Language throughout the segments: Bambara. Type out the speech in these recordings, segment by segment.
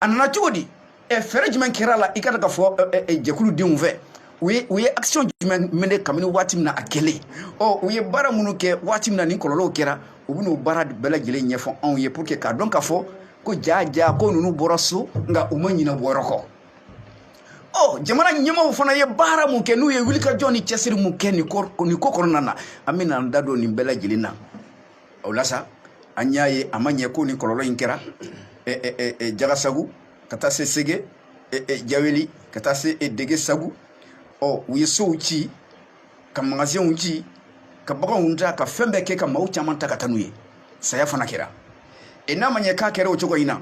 a nana cogo di ɛ fɛɛrɛ jumɛn kɛra la i ka da k'a fɔ jɛkulu denw fɛ u ye u ye action jumɛn mener kabini waati min na a kɛlen ɔ u ye baara minnu kɛ waati min na nin kɔlɔlɔw kɛra u bɛn'o baara bɛɛ lajɛlen ɲɛfɔ anw ye pour que k'a dɔn k'a fɔ ko jaa jaa ko ninnu bɔra so nka u ma ɲinɛ bɔ yɔrɔ kɔ ɔ jamana ɲɛmaaw fana ye baara mun kɛ n'u ye wulikajɔ ni cɛsiri mun kɛ nin ko kɔnɔna na an bɛna an da don nin bɛɛ lajɛlen na o la sa an y'a ye a ma ɲɛ ko nin kɔlɔlɔ in kɛra jagasagu ka taa se sege jaweli ka taa se degesagu ɔ u ye sow ci ka magasinw ci ka baganw ta ka fɛn bɛɛ kɛ ka maaw caman ta ka taa n'u ye saya fana kɛra e n'a ma ɲɛ k'a kɛra o cogo in na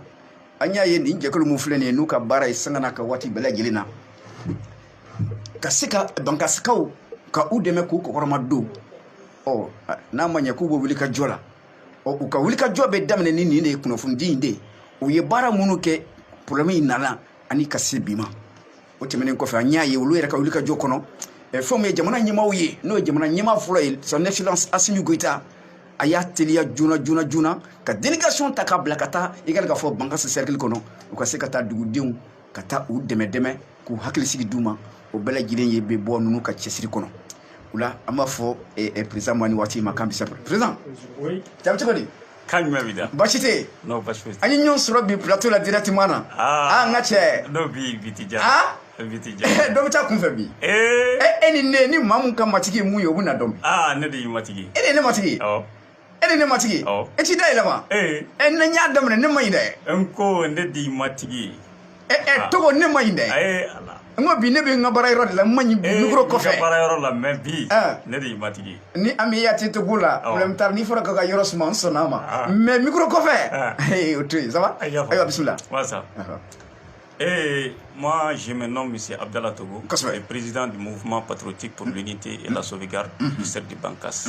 an y'a ye nin jɛkulu min filɛ nin ye n'u ka baara ye sanga n'a ka waati bɛɛ lajɛlen na ka se ka bankasikaw ka u dɛmɛ k'u kɔkɔrɔmadon ɔ n'a ma ɲɛ k'u bɛ wulikajɔ la ɔ u ka wulikajɔ bɛ daminɛ ni nin de ye kunnafonidi in de ye u ye baara minnu kɛ porobilɛmu in nana ani ka se bi ma o tɛmɛnen kɔfɛ an y'a ye olu yɛrɛ ka wulikajɔ kɔnɔ fɛnw ye jamana ɲɛmaaw ye n'o ye jamana ɲɛmaa fɔlɔ ye son excellence asimi goyita a y'a teliya joona joona joona ka delegation ta k'a bila ka taa i ka k'a fɔ bankasi cercle kɔnɔ u ka se ka taa dugudenw ka taa u dɛmɛ dɛmɛ ka hakilisigi d'u ma o bɛɛ lajɛlen ye bɛ bɔ ninnu ka cɛsiri kɔnɔ o la an b'a fɔ perezan ma nin waati ma k'a bisimila perezan jaabi cogo di kan jumɛn b'i da baasi tɛ yen non baasi foyi an ye ɲɔgɔn sɔrɔ bi plateau la directement na aa n ka cɛ n'o bi bi ti ja aa bi ti ja dɔ bɛ taa kunfɛ bi ee e ni ne ni maa mun ka matigi ye mun ye o bɛna dɔn aa ne de y'i matigi e de ye ne matigi ye awɔ e de ne matigi ye Awɔ. e t'i da yɛlɛma ee ɛ ne n y'a daminɛ ne ma ɲi dɛ n ko ne d'i matigi ye ɛ ɛ Ah. togo ne ma ɲi dɛ a ye ala n ko bi ne bɛ n ka baara yɔrɔ de la n ma ɲi Eh, mikoro i ka kɔfɛ baara yɔrɔ la mɛ bi Ah. ne de y'i matigi ye ni an bɛ yati togo la Awɔ. problème t'a la n'i fɔra k'a ka yɔrɔ suma n sɔnna a ma Ah. mais mikoro kɔfɛ Ah. ee o to yen ça va Ayi, y'a faamu. ayiwa bisimila wasa Ɔhɔ. Et moi, je me nomme M. Abdallah Togo, Kosɛbɛ. le président du mouvement patriotique pour l'unité et la sauvegarde du cercle de Bankass.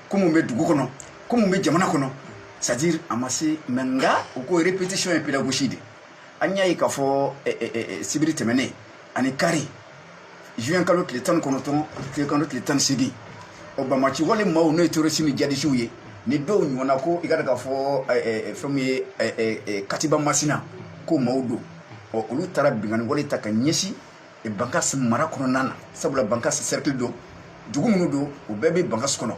ko mun bɛ dugu kɔnɔ ko mun bɛ jamana kɔnɔ c'est à dire a ma se mɛ nka u ko répétition ye pédagogie de an y'a ye k'a fɔ eh, eh, eh, sibiri tɛmɛnen ani kari juin kalo tile tan ni kɔnɔntɔn tile kalo tile tan ni seegin o banbaanci wale maaw n'o ye terrorisi ni jihadisiw ye ni dɔw ɲɔgɔnna ko i ka da k'a fɔ fɛn min ye katiba masina ko maaw don ɔ olu taara binkanni wale ta ka ɲɛsin bankasi mara kɔnɔna na sabula bankasi cercle don dugu minnu don u bɛɛ bɛ bankasi kɔnɔ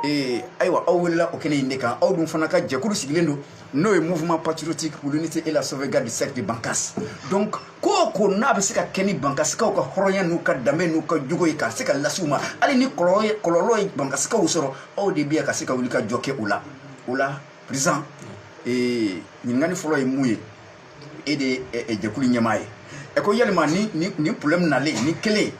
ee ayiwa aw welela o kɛnɛ in de kan aw dun fana ka jɛkulu sigilen don n'o ye mouvement patriotique pour l'unité et la sauvegarde du cercle de bankas donc ko o ko n'a bɛ se ka kɛ ni bankasikaw ka hɔrɔnya n'u ka danbe n'u ka jogo ye ka se ka lase u ma hali ni kɔlɔlɔ ye kɔlɔlɔ ye bankasikaw sɔrɔ aw de bɛ yan ka se ka wulikajɔ kɛ o la o la président ee ɲininkali fɔlɔ ye min ye e de ye jɛkulu ɲɛmaa ye ɛ ko yalima nin nin nin problème nalen nin kɛlen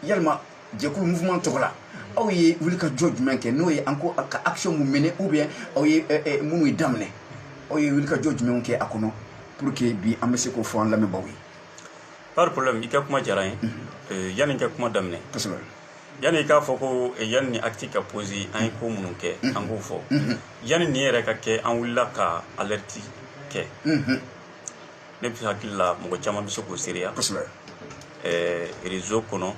yalima jɛkulu mouvement tɔgɔ la aw ye wulikajɔ jumɛn kɛ n'o ye an ko ka action mun mené ou bien aw ye minnu ye daminɛ aw ye wulikajɔ jumɛnw kɛ a kɔnɔ pour que bi an bɛ se k'o fɔ an lamɛnbaaw ye pas de problème i ka kuma diyara n ye yanni n ka kuma daminɛ kosɛbɛ Yanni i k'a fɔ ko yanni nin acte ka posé an ye ko minnu kɛ an k'o fɔ yanni nin yɛrɛ ka kɛ an wulila ka alerte kɛ ne bɛ hakili la mɔgɔ caman bɛ se k'o seereya kosɛbɛ réseau kɔnɔ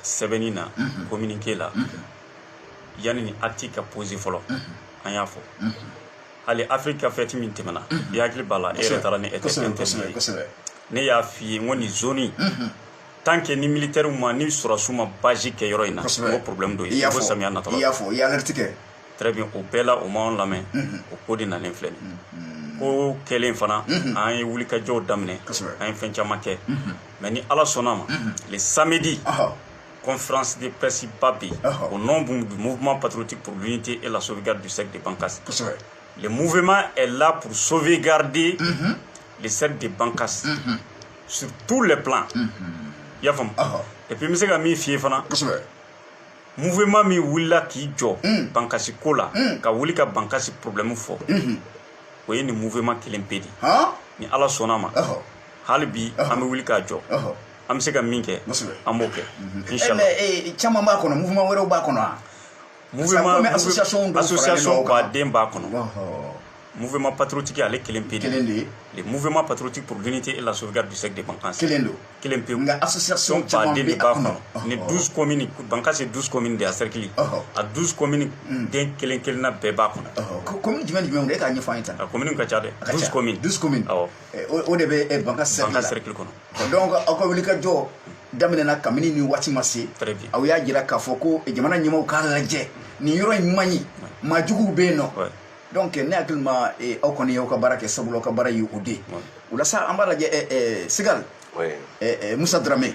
sɛbɛnni na communiqué la yanni nin acte ka posé fɔlɔ an y'a fɔ hali Afrique ka fête min tɛmɛna i hakili b'a la e yɛrɛ taara ni e tɛ ne y'a fɔ i ye ko nin zone tant que ni militairew ma ni sɔrɔdasiw ma base kɛ yɔrɔ in na o problème dɔ ye ko samiya natɔ la i y'a fɔ i y'alerte kɛ très bien o bɛɛ la u m'anw lamɛn mhm. o ko de nalen filɛ nin mhm. ko kɛlen fana mhm. an ye wulikajɔw daminɛ an ye fɛn caman kɛ mais ni ala sɔnna ma le samedi conférence de presse ba bɛ yen au nom du mouvement patriotique pour l'unité et la sauvegarde du cercle de Bankas le mouvement est là pour sauvegarder le cercle de Bankas sur tous les plans mhm. i y'a faamu et puis n bɛ se ka min f'i ye fana mouvement min wulila k'i jɔ mm. bankasi ko la mm. ka wuli ka bankasi problème fɔ mm-hmm. o ye nin mouvement kelen pe de ni ala sɔnna ma hali bi an bɛ wuli k'an jɔ an bɛ se ka min kɛ an b'o kɛ mm-hmm. eh, inchallah eh, caman b'a kɔnɔ mouvement wɛrɛw b'a kɔnɔ wa mouvement association association ba den b'a kɔnɔ mouvement patriotique ale kelen pe kelen de le mouvement patriotique pour l'unité et la sauvegarde du cercle de Bankas kelen don kelen pe nga association ba den b'a kɔnɔ ni 12 communes Bankas ye 12 communes de a cercle a 12 communes hmm. den kelen kelenna bɛɛ b'a kɔnɔ commune jumɛn jumɛn de k'a ɲɛfɔ an ye tan a commune ka ca dɛ 12 communes 12 communes awɔ o de bɛ Bankas cercle la Bankas cercle kɔnɔ donc aw ka wulikajɔ daminɛna kabini nin waati ma se aw y'a jira k'a fɔ ko jamana ɲɛmaaw k'a lajɛ nin yɔrɔ in man ɲi maa juguw bɛ yen nɔ donc ne hakili ma eh, aw kɔni y'aw ka baara kɛ sabula aw ka baara ye o de ye o la sa an b'a lajɛ eh, eh, sigal musa darame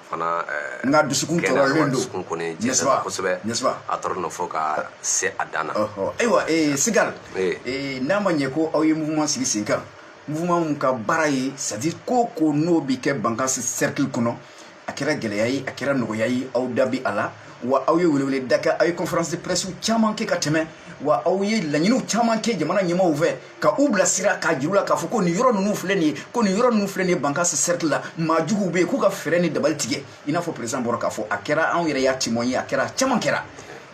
fana eh, n ka dusukun tɔɔrɔlen don dusukun kɔni jɛnsɛnna kosɛbɛ a tɔɔrɔla fo ka se a dan na ayiwa eh, sigal eh, n'a ma ɲɛ ko aw ye mouvement sigi sen kan mouvement min ka baara ye c'est à dire ko ko n'o bɛ kɛ bankasi cercle kɔnɔ a kɛra gɛlɛya ye a kɛra nɔgɔya ye aw da b'a la wa aw ye weleweleda kɛ aw ye conférence de presse caman kɛ ka tɛmɛ wa aw ye laɲiniw caman kɛ jamana ɲɛmaaw fɛ ka u bilasira k'a jira u la k'a fɔ ko nin yɔrɔ ninnu filɛ nin ye ko nin yɔrɔ ninnu filɛ nin ye bankasi sɛrikili la maa juguw bɛ yen k'u ka fɛɛrɛ ni dabali tigɛ i n'a fɔ perezidan bɔra k'a fɔ a kɛra anw yɛrɛ y'a témoin ye a kɛra caman kɛra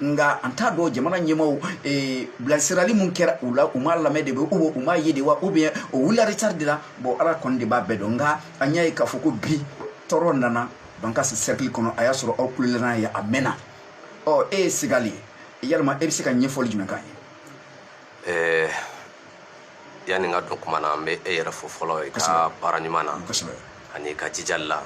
nka an t'a dɔn jamana ɲɛmaaw eh, bilasirali min kɛra u la u m'a lamɛn de wa u u m'a ye de wa ou bien u wulila retard de la bon ala kɔni de b'a bɛɛ dɔn nka an y'a ye k'a fɔ ko bi tɔɔrɔ nana bankasi sɛrikili kɔnɔ a y'a sɔrɔ aw kulela ye a mɛnna ɔ e ye sigali yalima e bɛ se ka ɲɛfɔli jumɛn k'an ye eh, yani n ka don kuma na n bɛ e yɛrɛ fo fɔlɔ i ka baara ɲuman na ani i ka jijali la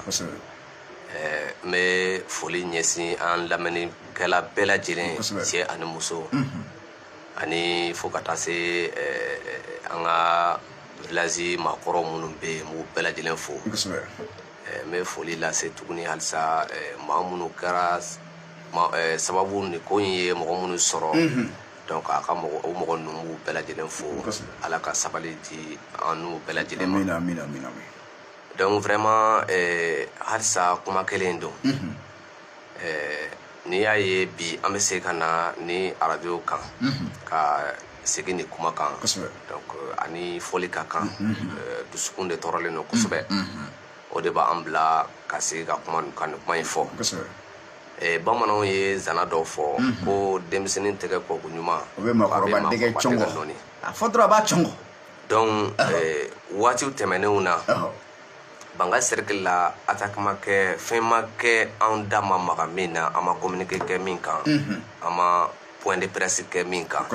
eh, n bɛ foli ɲɛsin an lamɛnnikɛla bɛɛ lajɛlen cɛ ani muso mhm. ani fo ka taa se eh, an ka village maakɔrɔ minnu bɛ yen n b'u bɛɛ lajɛlen fo eh, n bɛ foli lase tuguni halisa maa minnu kɛra sababu nin ko in ye mɔgɔ minnu sɔrɔ mhm. donc a ka mɔgɔ o mɔgɔ ninnu n b'u bɛɛ lajɛlen fo ala ka sabali di an n'u bɛɛ lajɛlen ma donc vraiment eh, halisa kuma kelen don mhm. eh, n'i y'a ye bi an bɛ segin ka na nin arajo kan mhm. ka segin nin kuma kan donc eh, aw ni foli ka kan mhm. dusukun de tɔɔrɔlen don kosɛbɛ o de b'an bila ka segin ka kuma kan nin kuma in fɔ Eh, bamananw ye zana dɔ fɔ mhm. ko denmisɛnnin tɛgɛ koko ɲuman o bɛ maakɔrɔba dɛgɛ cɔngɔ a fɔ dɔrɔn a b'a cɔngɔ donc eh, waatiw tɛmɛnenw na bankasi cercle la attaque ma kɛ fɛn ma kɛ anw da ma maga min na an ma communiqué kɛ min kan mhm. an ma point de presse kɛ min kan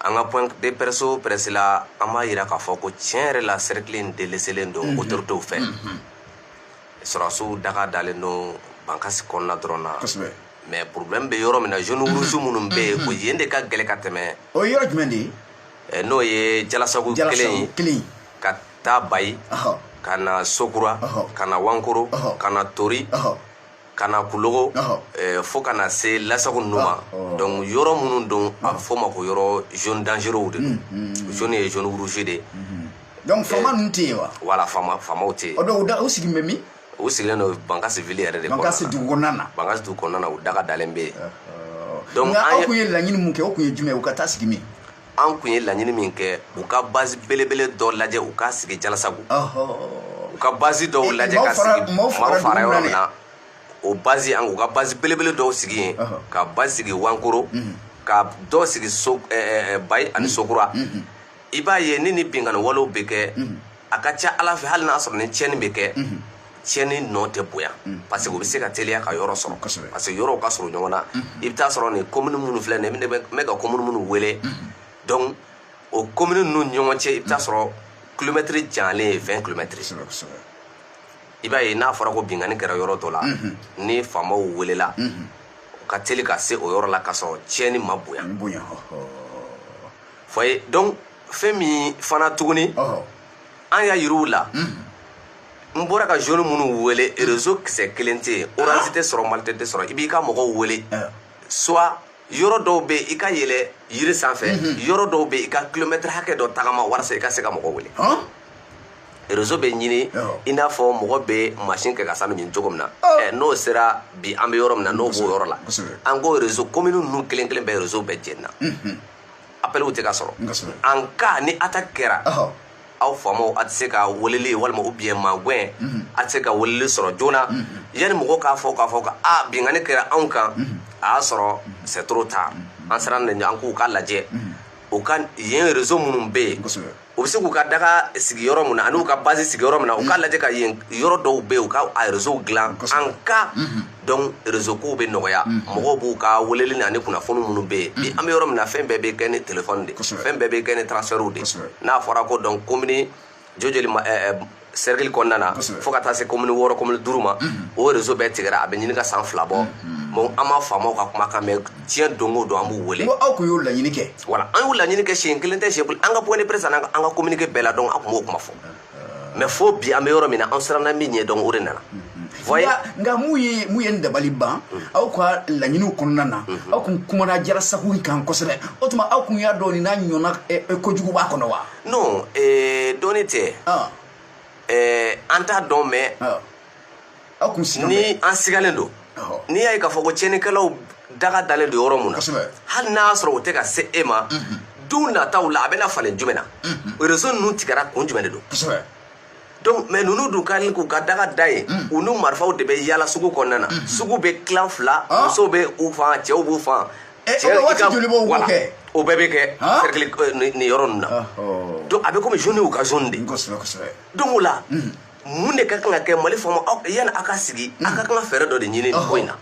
an ka point de presse o presse la an b'a yira k'a fɔ ko tiɲɛ yɛrɛ la cercle in délaissélen don mhm. autoritéw fɛ sɔrɔdasiw daga dalen don bankasi kɔnɔna dɔrɔn na kosɛbɛ mais problème bɛ yɔrɔ min na zone rouge minnu bɛ yen o yen de ka gɛlɛ ka tɛmɛ o ye yɔrɔ jumɛn de ye n'o ye jalasagu kelen ye kelen ka taa bayi ka na sokura ka na wankoro ka na tori ka na kulogo fo ka na se lasagu ninnu ma donc yɔrɔ minnu don a bɛ fɔ o ma ko yɔrɔ zone dangereux de don zone ye zone rouge de ye donc faama ninnu tɛ yen wa wala faama faamaw tɛ yen o donc u da u sigilen bɛ min u sigilen don bankasi ville yɛrɛ de bankasi dugu kɔnɔna na bankasi dugu kɔnɔna na u daga dalen bɛ yen donc nka aw kun ye laɲini mun kɛ o kun ye jumɛn ye u ka taa sigi min an kun ye laɲini min kɛ u ka base belebele dɔ lajɛ u ka sigi jalasago u ka base dɔw lajɛ ka sigi maaw fara yɔrɔ min na o base an u ka base belebele dɔw sigi yen ka base sigi wankoro ka dɔ sigi so bayi ani sokura i b'a ye ni ni binkanni walew bɛ kɛ a ka ca ala fɛ hali n'a sɔrɔ ni tiɲɛni bɛ kɛ tiɲɛni nɔ tɛ bonya parce que u bɛ se ka teliya ka yɔrɔ sɔrɔ parce que yɔrɔw ka surun ɲɔgɔn na i bɛ taa sɔrɔ nin komini minnu filɛ nin ye n bɛ ka komini minnu wele donc o komini ninnu ɲɔgɔn cɛ i bɛ taa sɔrɔ kilomɛtiri janyalen ye 20 kilomɛtiri i b'a ye n'a fɔra ko binkanni kɛra yɔrɔ dɔ la ni faamaw welela u ka teli ka se o yɔrɔ la ka sɔrɔ tiɲɛni ma bonya foye donc fɛn min fana tuguni an y'a yiriw la n bɔra ka zone minnu wele réseau kisɛ kelen tɛ yen orange tɛ sɔrɔ malitel tɛ sɔrɔ i b'i ka mɔgɔw wele soit yɔrɔ dɔw bɛ i ka yɛlɛn yiri sanfɛ yɔrɔ dɔw bɛ i ka kilomɛtiri hakɛ dɔ tagama walasa i ka se ka mɔgɔ wele réseau bɛ ɲini i n'a fɔ mɔgɔ bɛ masin kɛ ka sanu ɲini cogo min na n'o sera bi an bɛ yɔrɔ min na n'o b'o yɔrɔ la an k'o réseau commune ninnu kelen kelen bɛɛ réseau bɛɛ jenina appelw tɛ ka sɔrɔ en cas ni attaque kɛra aw faamaw a tɛ se ka weleli walima u bɛ yen magwɛn mhm. a tɛ se ka weleli sɔrɔ joona mhm. yanni mɔgɔw k'a fɔ k'a fɔ ka a binkanni kɛra anw kan mhm. a y'a sɔrɔ c'est trop tard an siranna an k'u k'a lajɛ u ka yen rezo minnu bɛ yen u bɛ se k'u ka daga sigi yɔrɔ min na an'u ka base sigi yɔrɔ min na u k'a lajɛ ka yen yɔrɔ dɔw bɛ yen u ka a réseau dilan en cas donc réseau kow bɛ nɔgɔya mɔgɔw b'u ka weleli na ni kunnafoni minnu bɛ yen bi an bɛ yɔrɔ min na fɛn bɛɛ bɛ kɛ ni téléphone de ye fɛn bɛɛ bɛ kɛ ni transfert de ye n'a fɔra ko donc komini jo joli ma cercle kɔnɔna na fo ka taa se komini wɔɔrɔ komini duuru ma o rezo bɛɛ tigɛra a bɛ ɲini ka san fila bɔ mais an ma faamaw ka kumakan mɛn tiɲɛ don o don an b'u wele aw kun y'o laɲini kɛ wala an y'o laɲini kɛ siɲɛ kelen tɛ siɲɛ kelen an ka point de presse an ka communiqué bɛɛ la donc an kun b'o kuma fɔ mais fo bi an bɛ yɔrɔ min na an siranna min ɲɛ donc o de nana nka mun ye mun ye n dabali ban aw ka laɲiniw kɔnɔna na aw kun kumana jarasagu kan kosɛbɛ o tuma aw kun y'a dɔn nin n'a ɲɔgɔnna kojugu b'a kɔnɔ wa non ee eh, dɔnni tɛ ah. ee eh, an t'a dɔn mais ah. aw kun sigalen ni an sigalen don ah. n'i y'a ye k'a fɔ ko tiɲɛnikɛlaw daga dalen don yɔrɔ mun na hali n'a y'a sɔrɔ u tɛ ka se e ma mhm. don nataw la a bɛna falen jumɛn na mhm. rezo ninnu tigɛra kun jumɛn de don donc mais ninnu dun ka nin k'u ka daga da ye hmm. u n'u marifaw de bɛ yaala sugu kɔnɔna na hmm. sugu bɛ tilan fila ah. musow bɛ u fan cɛw b'u fan eh, c'est que voilà o bɛɛ bɛ kɛ ah. cercle euh, nin yɔrɔ ninnu na ah, oh. donc a bɛ komi zone y'u ka zone de donc o la hmm. mun de ka kan ka kɛ mali faamaw yanni aw ka sigi a ka kan ka fɛɛrɛ dɔ de ɲini nin ko in na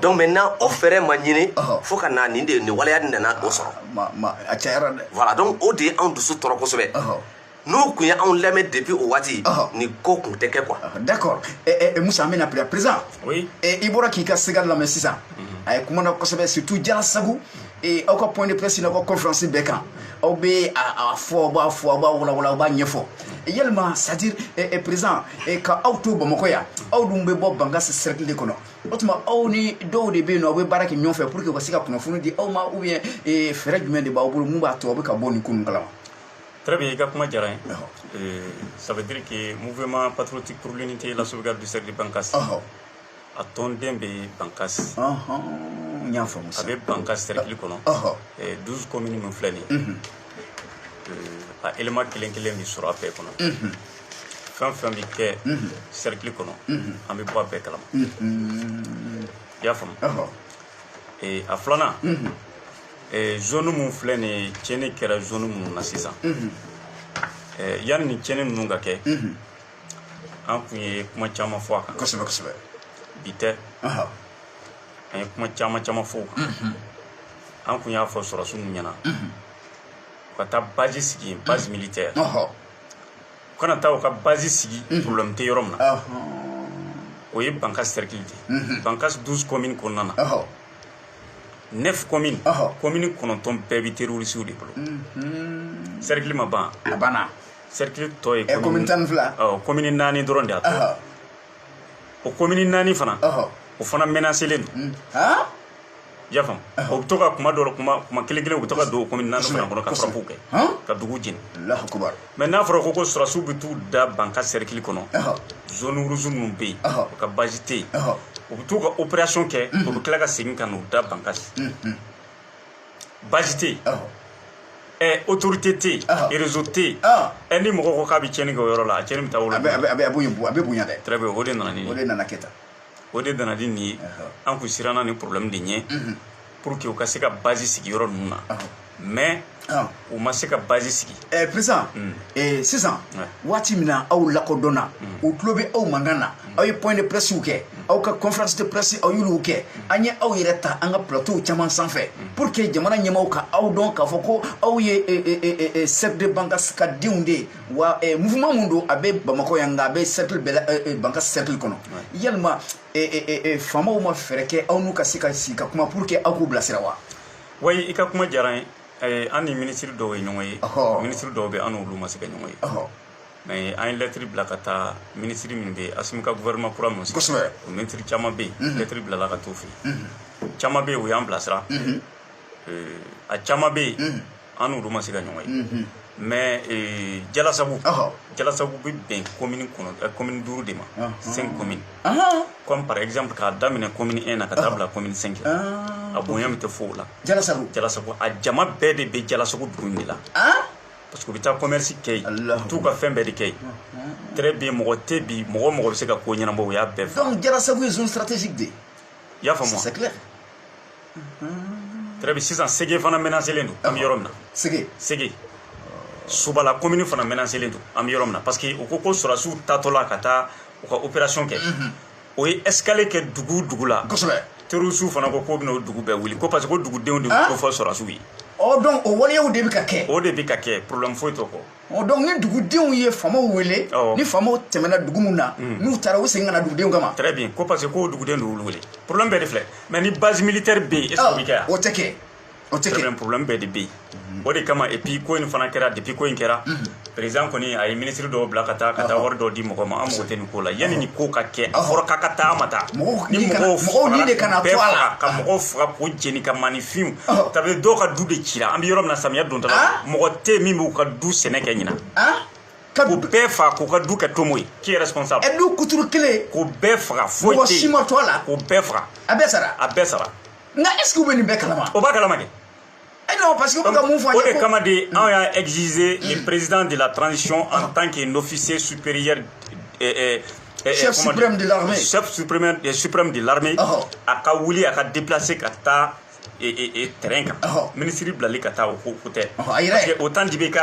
donc maintenant o fɛɛrɛ ma ɲini fo ka na nin de nin waleya nin nana o sɔrɔ a cayara dɛ voilà donc o de ye anw dusu tɔɔrɔ kosɛbɛ n'u tun ye anw lamɛn depuis o waati nin ko tun tɛ kɛ quoi d'accord musa an bɛna bila président i bɔra k'i ka ségal lamɛn sisan a ye kuma na kosɛbɛ surtout jara sabu aw ka point de presse n'aw ka conférence bɛɛ kan aw bɛ a fɔ aw b'a fɔ aw b'a walawala aw b'a ɲɛfɔ yalima c'est à dire président ka aw to bamakɔ yan aw dun bɛ bɔ bankas cercle de kɔnɔ o tuma aw ni dɔw de bɛ yen n'aw bɛ baara kɛ ɲɔgɔn fɛ pour que u ka se ka kunnafoni di aw ma ou bien fɛɛrɛ jumɛn de b'aw bolo mun b'a to aw bɛ ka bɔ nin ko ninnu kalama Très bien, i ka kuma diyara n ye. Ɔhɔ. Euh, ça veut dire que mouvement patriotique pour l'unité et la sauvegarde du cercle de Bankas, Ɔhɔ. a tɔnden bɛ Bankas. Ɔhɔn, n y'a faamu sa. A bɛ Bankas cercle kɔnɔ. Ɔhɔ. Eh, 12 communes min filɛ nin ye, Mhm. euh, a élément kelen kelen bɛ sɔrɔ a bɛɛ kɔnɔ. Mhm. Fɛn o fɛn bɛ kɛ Mhm. cercle kɔnɔ, Mhm. an bɛ bɔ a bɛɛ kalama. Mhm. I y'a faamu? Ɔhɔ. Eh, a filanan, Mhm. Eh, zone min filɛ nin ye tiɲɛni kɛra zone minnu na sisan mhm. eh, yanni nin tiɲɛni ninnu ka kɛ mhm. an kun ye kuma caman fɔ a kan kosɛbɛ kosɛbɛ bi tɛ an ye kuma caman caman fɔ o kan mhm. an kun y'a fɔ sɔrɔsiw ɲɛna u ka taa bazi sigi yen base militaire u kana taa u ka bazi sigi problème tɛ yɔrɔ min na o ye bankas cercle de ye bankas 12 commune kɔnɔna na neuf communes ɔhɔ commune kɔnɔntɔn bɛɛ bɛ terrorisiw de bolo cercle ma ban a banna cercle tɔ ye ɛ commune tan ni fila ɔ commune naani dɔrɔn de y'a tɔ ɔhɔ o commune naani fana ɔhɔ o fana menacelen don han i y'a faamu u bɛ to ka kuma dɔ la kuma kuma kelen kelen u bɛ to ka don o commune naani fana kɔnɔ ka frappe kɛ han ka dugu jeni alahu akubar mais n'a fɔra ko ko sɔrɔsiw bɛ t'u da bankas cercle kɔnɔ zone rouge minnu bɛ yen u ka bazi tɛ yen u bɛ t'u ka opération kɛ u bɛ tila ka segin ka n'u da bankas bazi tɛ yen ɛ autorité tɛ yen réseau tɛ yen ɛ ni mɔgɔ ko k'a bɛ tiɲɛni kɛ o yɔrɔ la a tiɲɛni bɛ taa wolo a bɛ bonya dɛ très bien o de nana ni o de nana kɛ tan o de nana ni nin ye an kun siranna nin problème de ɲɛ pour que u ka se ka base sigi yɔrɔ ninnu na mais u ma se ka base sigi président sisan waati min na aw lakodɔnna u tulo bɛ aw mankan na aw ye point de presse kɛ aw ka conférence de presse aw y'olu kɛ an ye aw yɛrɛ ta an ka plateau caman sanfɛ pour que jamana ɲɛmaaw ka aw dɔn k'a fɔ ko aw ye cercle de bankas ka denw de ye wa mouvement mun don a bɛ bamakɔ yan nka a bɛ cercle bɛɛ la bankas cercle kɔnɔ yalima faamaw ma fɛɛrɛ kɛ aw n'u ka se ka sigi ka kuma pour que aw k'u bilasira wa wayi i ka kuma diyara n ye an ni minisiri dɔw ye ɲɔgɔn ye minisiri dɔw bɛ an n'olu ma se ka ɲɔgɔn ye mais an ye lɛtiri bila ka taa minisiri min bɛ yen asimi ka gouvernement kura min kosɛbɛ o minisiri caman bɛ yen lɛtiri bilala ka t'u fɛ yen caman bɛ yen u y'an bilasira a caman bɛ yen an n'olu ma se ka ɲɔgɔn ye mais jalasagu jalasagu bɛ bɛn commune kɔnɔ commune duuru de ma cinq commune comme par exemple k'a daminɛ commune 1 na ka taa bila commune 5 la a bonya bɛ taa fo o la jalasagu jalasagu a jama bɛɛ de bɛ jalasagu dugu in de la parce que u bɛ taa commerce kɛ yen u bɛ t'u ka fɛn bɛɛ de kɛ yen très bien mɔgɔ tɛ bi mɔgɔ mɔgɔ bɛ se ka ko ɲɛnabɔ u y'a bɛɛ fɔ donc jalasagu ye zone stratégique de ye i y'a faamu wa c'est clair très bien sisan sege fana menaselen don an bɛ yɔrɔ min na sege sege subala komini fana menaselen don an bɛ yɔrɔ min na parce que u ko ko sɔrɔdasiw taatɔla ka taa u ka opération kɛ u ye escale kɛ dugu dugu la kosɛbɛ terrorisiw fana ko k'u bɛna o dugu bɛɛ wuli ko parce que ko dugudenw de ko fɔ sɔrɔdasiw ye ɔ donc o waleyaw de bɛ ka kɛ o de bɛ ka kɛ problème foyi t'o kɔ ɔ donc ni dugudenw ye faamaw wele ni faamaw tɛmɛna dugu min na hmm. n'u taara u bɛ segin ka na dugudenw kama très bien ko parce que ko dugudenw de y'olu wele problème bɛɛ de filɛ mais ni base militaire bɛ yen est ce que o bɛ kɛ yan o tɛ kɛ o tɛ kɛ problème bɛɛ de bɛ yen hmm. o de kama et puis ko in fana kɛra depuis ko in kɛra hmm. président kɔni a ye ministre dɔw bila ka taa ka taa wari dɔw di mɔgɔw ma an mago tɛ ko la yanni nin ko ka kɛ a fɔra k'a ka taa a ma taa ni mɔgɔw fagara bɛɛ faga ka mɔgɔw faga k'u jeni ka maanifinw tabi dɔw ka du de cira an bɛ yɔrɔ min na samiya dontɔ la mɔgɔ tɛ min b'u ka du sɛnɛ kɛ ɲina ka k'u bɛɛ faga k'u ka du kɛ tomo ye qui est responsable ɛ du kuturu kelen k'u bɛɛ faga foyi tɛ mɔgɔ si ma to a la k'u bɛɛ faga a bɛɛ sara a bɛɛ sara nka est ce que u bɛ nin bɛɛ kalama u b'a kalama kɛ Eh non, parce que vous avez mon O de kama de anw y'a exiger le président de la transition en ah. tant qu'un officier supérieur eh, eh, eh, chef suprême de l'armée chef suprême suprême de l'armée ah. a ka wuli a ka déplacer ka taa terrain kan minisiri bilali ka taa o ko ko tɛ parce que au temps d'ibk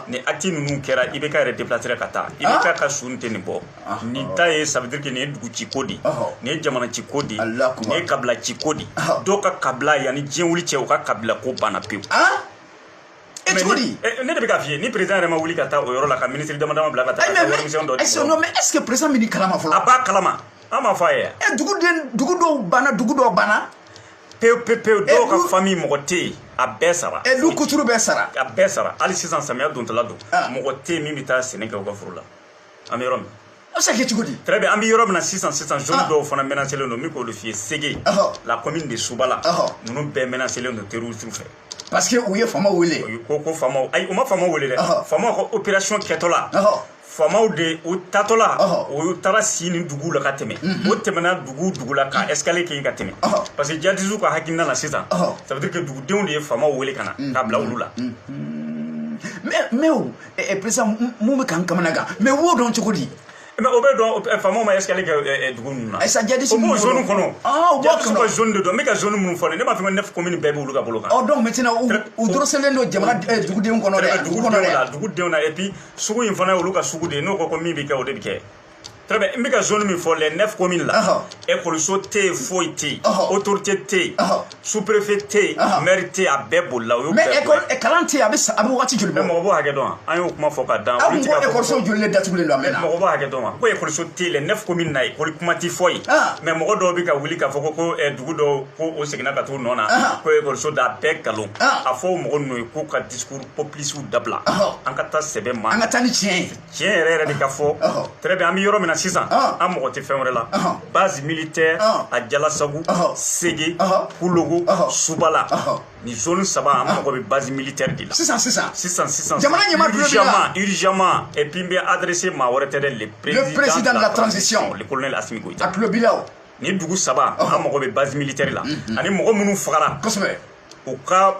ni acte ninnu kɛra ibk yɛrɛ déplacera ka taa ibk ka su tɛ nin bɔ ni ta ye ça veut dire que nin ye dugu ci ko di nin ye jamana ci ko di nin ye kabila ci ko di dɔw ka kabila yan ni diɲɛ wuli cɛ u ka kabila ko banna pewu e cogo di ne de bɛ k'a f'i ye ni président yɛrɛ ma wuli ka taa o yɔrɔ la ka ministre dama dama bila ka taa ka warimisɛn dɔ di mɔgɔw ma est ce que président bɛ nin kalama fɔlɔ a b'a kalama an m'a fɔ a ye yan ɛ dugu den dugu dɔw banna dugu dɔw banna pewu pewu pewu dɔw ka famille mɔgɔ tɛ yen a bɛɛ sara ɛ du kuturu bɛɛ sara a bɛɛ sara hali sisan samiya dontɔla don mɔgɔ tɛ yen min bɛ taa sɛnɛ kɛ u ka foro la an bɛ yɔrɔ min a bɛ se ka kɛ cogo di très bien an bɛ yɔrɔ min na sisan sisan zone ah. dɔw fana menacelen don n bɛ k'olu f'i ye sege la commune de subala ninnu bɛɛ menacelen don terrorisme fɛ parce que u ye faamaw wele u ko ko faamaw ayi u ma faamaw wele dɛ faamaw ka opération kɛtɔla faamaw de u taatɔla u taara si nin duguw la ka tɛmɛ mhm. u tɛmɛna dugu dugu la ka escale kɛ yen ka tɛmɛ parce que jadisiw ka hakilina na sisan ça veut dire que dugudenw de ye faamaw wele ka na mhm. ka bila olu la mhm. mais mais ɛ peresa mun bɛ k'an kamanagan mais o dɔn cogo di mais o bɛ dɔn faamaw ma escale kɛ dugu ninnu na ayisa jadisiw b'o zone kɔnɔ u b'a kɔnɔ ka zone de don n bɛ ka zone minnu fɔ ne b'a fɔ ko neuf commune bɛɛ b'olu ka bolo kan ɔ donc maintenant u doroselen don jamana dugudenw kɔnɔ dɛ dugu kɔnɔ dɛ dugudenw na et puis sugu in fana y'olu ka sugu de ye n'u ko ko min bɛ kɛ o de bɛ kɛ très bien n bɛ ka zone min fɔ les neuf communes la ekɔliso tɛ yen foyi tɛ yen autorité tɛ yen sous préfet tɛ yen maire tɛ yen a bɛɛ bolila u y'u bɛɛ bɔ yen kalan tɛ yen a bɛ a bɛ wagati joli bɔ mais mɔgɔ b'o hakɛ dɔn an y'o kuma fɔ kaban aw ko ekɔliso joli de datugulen don a mɛnna mɔgɔ b'o hakɛ dɔn wa ko ekɔliso tɛ yen les neuf communes na ekɔli kuma tɛ fɔ yen mais mɔgɔ dɔw bɛ ka wuli k'a fɔ ko ko dugu dɔw ko u seginna ka t'u nɔ na ko ekɔliso da a bɛɛ nkalon a fɔ o mɔgɔ ninnu ye k'u ka discours populiste dabila an ka taa sɛbɛ ma an ka taa ni tiɲɛ ye tiɲɛ yɛrɛ yɛrɛ de ka fɔ très bien an bɛ yɔrɔ min na sisan an mago tɛ fɛn wɛrɛ la base militaire à jalasagu sege kulogo subala nin zone saba an mago bɛ base militaire de la sisan sisan sisan sisan jamana ɲɛmaa tulo b'i la urgemment et puis n bɛ adressé maa wɛrɛ tɛ dɛ le président de la transition le colonel Assimi Goïta a tulo b'i la o nin dugu saba an mago bɛ base militaire la ani mɔgɔ minnu fagara kosɛbɛ u ka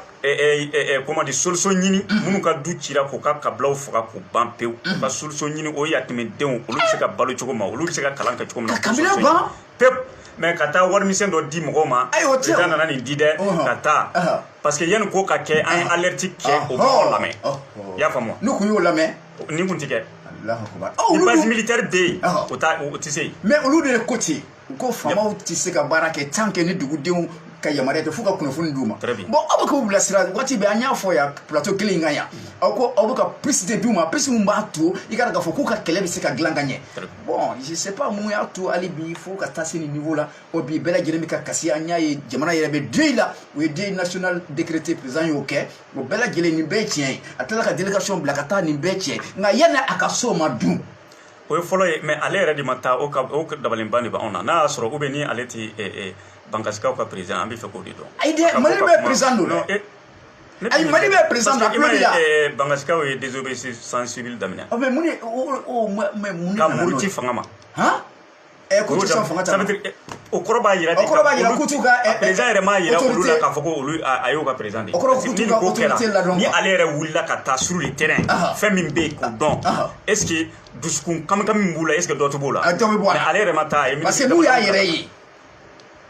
comment dire solution ɲini minnu ka du cira k'u ka kabilaw faga k'u ban pewu u ka solution ɲini o yatimɛdenw olu bɛ se ka balo cogo min olu bɛ se ka kalan kɛ cogo min na pewu mais ka taa warimisɛn dɔ di mɔgɔw ma l'État nana nin di dɛ ka taa parce que yanni ko ka kɛ an ye alerte kɛ u ma mɔgɔw lamɛn i y'a faamu n'u kun y'o lamɛn nin kun ti kɛ ni base militaire bɛ yen u tɛ se yen mais olu de ye ko ten u ko faamaw tɛ se ka baara kɛ tant que ni dugudenw ka yamaruya tɛ f'u ka kunnafoni d'u ma bon an bɛ k'u bilasira waati bɛɛ an y'a fɔ yan plateau kelen in kan yan an ko an bɛ ka piste de d'u ma piste min b'a to i ka k'a fɔ k'u ka kɛlɛ bɛ se ka dilan ka ɲɛ bon je sais pas mun y'a to hali bi fo ka taa se nin niveau la o bi bɛɛ lajɛlen bɛ ka kasi an y'a ye jamana yɛrɛ bɛ deuil la u ye deuil national décrété président y'o kɛ o bɛɛ lajɛlen nin bɛɛ ye tiɲɛ ye a tilala ka délégation bila ka taa nin bɛɛ tiɲɛ nka yanni a ka s'o ma dun o ye fɔlɔ ye mais ale yɛrɛ de ma taa o ka o dabaliban de b'anw na n'a y'a sɔrɔ u bɛ ni ale tɛ bankasikaw ka président an b'a fɛ k'o de dɔn ayi dɛ mali bɛɛ président don dɛ ayi mali bɛɛ président don a tulo b'i la bankasikaw ye désobéissance civile daminɛ mɛ mun ka muruti fanga ma Eh, k'u tɛ sɔn fanga ta eh, o kɔrɔ b'a yira o kɔrɔ b'a yira ko u ka eh, président yɛrɛ m'a yira olu la k'a fɔ ko olu a y'u ka président de ye parce que ni nin ko kɛra ni ale yɛrɛ wulila ka taa sur le terrain fɛn min bɛ yen k'o dɔn est ce que dusukun kamikami min b'u la est ce que dɔ tɛ bɔ o la dɔ bɛ bɔ a la mais ale yɛrɛ ma taa a ye parce que n'u y'a yɛrɛ ye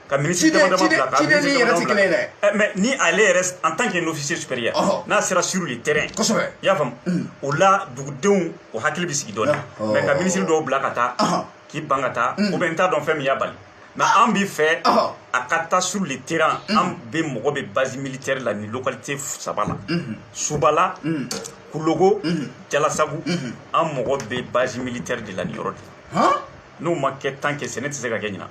ka minisiri dama dama bila ka minisiri dama dama bila eh, mais ni ale yɛrɛ en tant qu'un officier supérieur n'a sera sur le terrain kosɛbɛ i y'a faamu mm. o la dugudenw u hakili bɛ sigi dɔɔni mais ka minisiri dɔw bila ka taa k'i ban ka taa mm. ou bien n t'a dɔn fɛn min y'a bali mais ah. an b'a fɛ a ka taa sur le terrain mm. an bɛɛ mago bɛ base militaire la nin localité saba la mm-hmm. subala mm. kulogo mm-hmm. jalasagu mm-hmm. an mago bɛ base militaire de la nin yɔrɔ de n'o ma kɛ tan kɛ sɛnɛ tɛ se ka kɛ ɲinan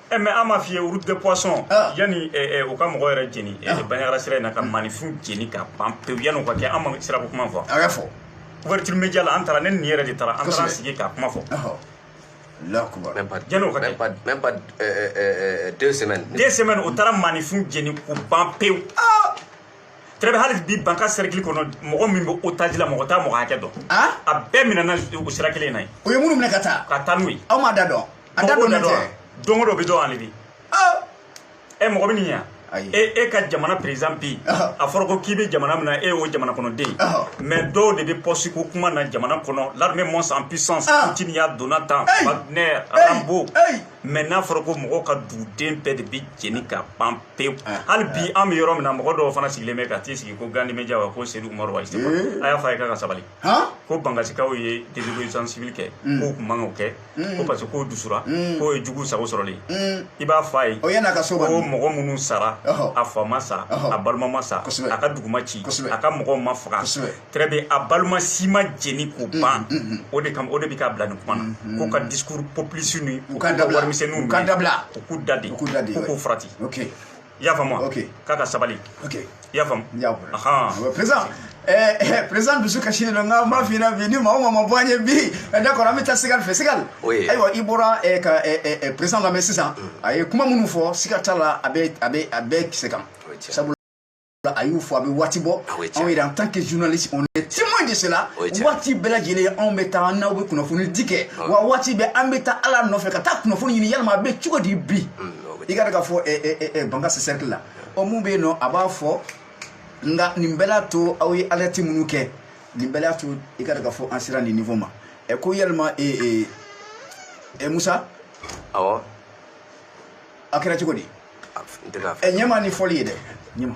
E mais an m'a f'i ye route de poisson yanni u ka mɔgɔ yɛrɛ jeni banjagara sira in na ka maaninfin jeni ka ban pewu yanni o ka kɛ an ma sira kuma fɔ a fɔ wari bɛ ja an taara ne nin yɛrɛ de taara an taara sigi ka kuma fɔ la u taara maaninfin jeni k'u ban pewu très bien hali bi bankasi cercle kɔnɔ mɔgɔ min bɛ otage la mɔgɔ t'a mɔgɔ hakɛ dɔn a bɛɛ minɛ sira kelen in na u ye minnu minɛ ka taa ka taa n'u ye an m'a da dɔn A da don don o dɔ bɛ dɔn ale bi ɛ mɔgɔ bɛ nin yan e e ka jamana président bi a fɔra ko k'i bɛ jamana min na e y'o jamana kɔnɔden mais dɔw de bɛ poste ko kuma na jamana kɔnɔ l'armée monte en puissance timiya donna tan ne arabu mais n'a fɔra ko mɔgɔw ka duguden bɛɛ de bɛ jeni ka ban pewu hali bi an bɛ yɔrɔ min na mɔgɔ dɔw fana sigilen bɛ ka t'i sigi ko gandi media wa ko sedu mɔri wa a y'a fɔ a ye k'a ka sabali ko bankasikaw ye délit civil kɛ k'u tun man k'a kɛ ko parce que k'o dusura k'o ye jugu sago sɔrɔlen ye i b'a fɔ a ye ko mɔgɔ minnu sara a fa ma sa a balima ma sa a ka dugu ma ci a ka mɔgɔw ma faga très bien a balima si ma jeni k'u ban o de kama o de bɛ k'a bila nin kuma na ko ka discours populiste ni u ka warimisɛnninw u k'u da de u k'u farati i y'a faamu ok k'a ka sabali ok i y'a faamu n y'a bolo ɔhɔn président eh, eh, président dusu kasilen don nka n b'a f'i ɲɛna bi ni maa o maa ma bɔ an ye bi eh, d'accord an bɛ taa sigal fɛ sigal Oui. ayiwa i bɔra eh, ka eh, eh, eh, président lamɛn sisan a ye kuma minnu fɔ siga t'a la a bɛ a bɛ a bɛ kisɛ kan Oui, tiɲɛ. sabula a y'u fɔ a bɛ waati bɔ Ah oui, tiɲɛ. anw yɛrɛ en tant que journaliste on est témoin de cela Oui, tiɲɛ. waati bɛɛ lajɛlen anw bɛ taa n'aw bɛ kunnafoni di kɛ wa waati bɛɛ an bɛ taa ale nɔfɛ ka taa kunnafoni ɲini yalima a bɛ cogo di bi i k'a ta k'a fɔ bankasi sɛriki la ɔ mun bɛ yen nɔ a b'a fɔ nka nin bɛɛ la to aw ye alerte minnu kɛ nin bɛɛ la to i k'a ta k'a fɔ an sera nin niveau ma ɛ ko yalima ɛ musa awɔ a kɛra cogo di ɛ ɲɛma ni foli ye dɛ ɲɛma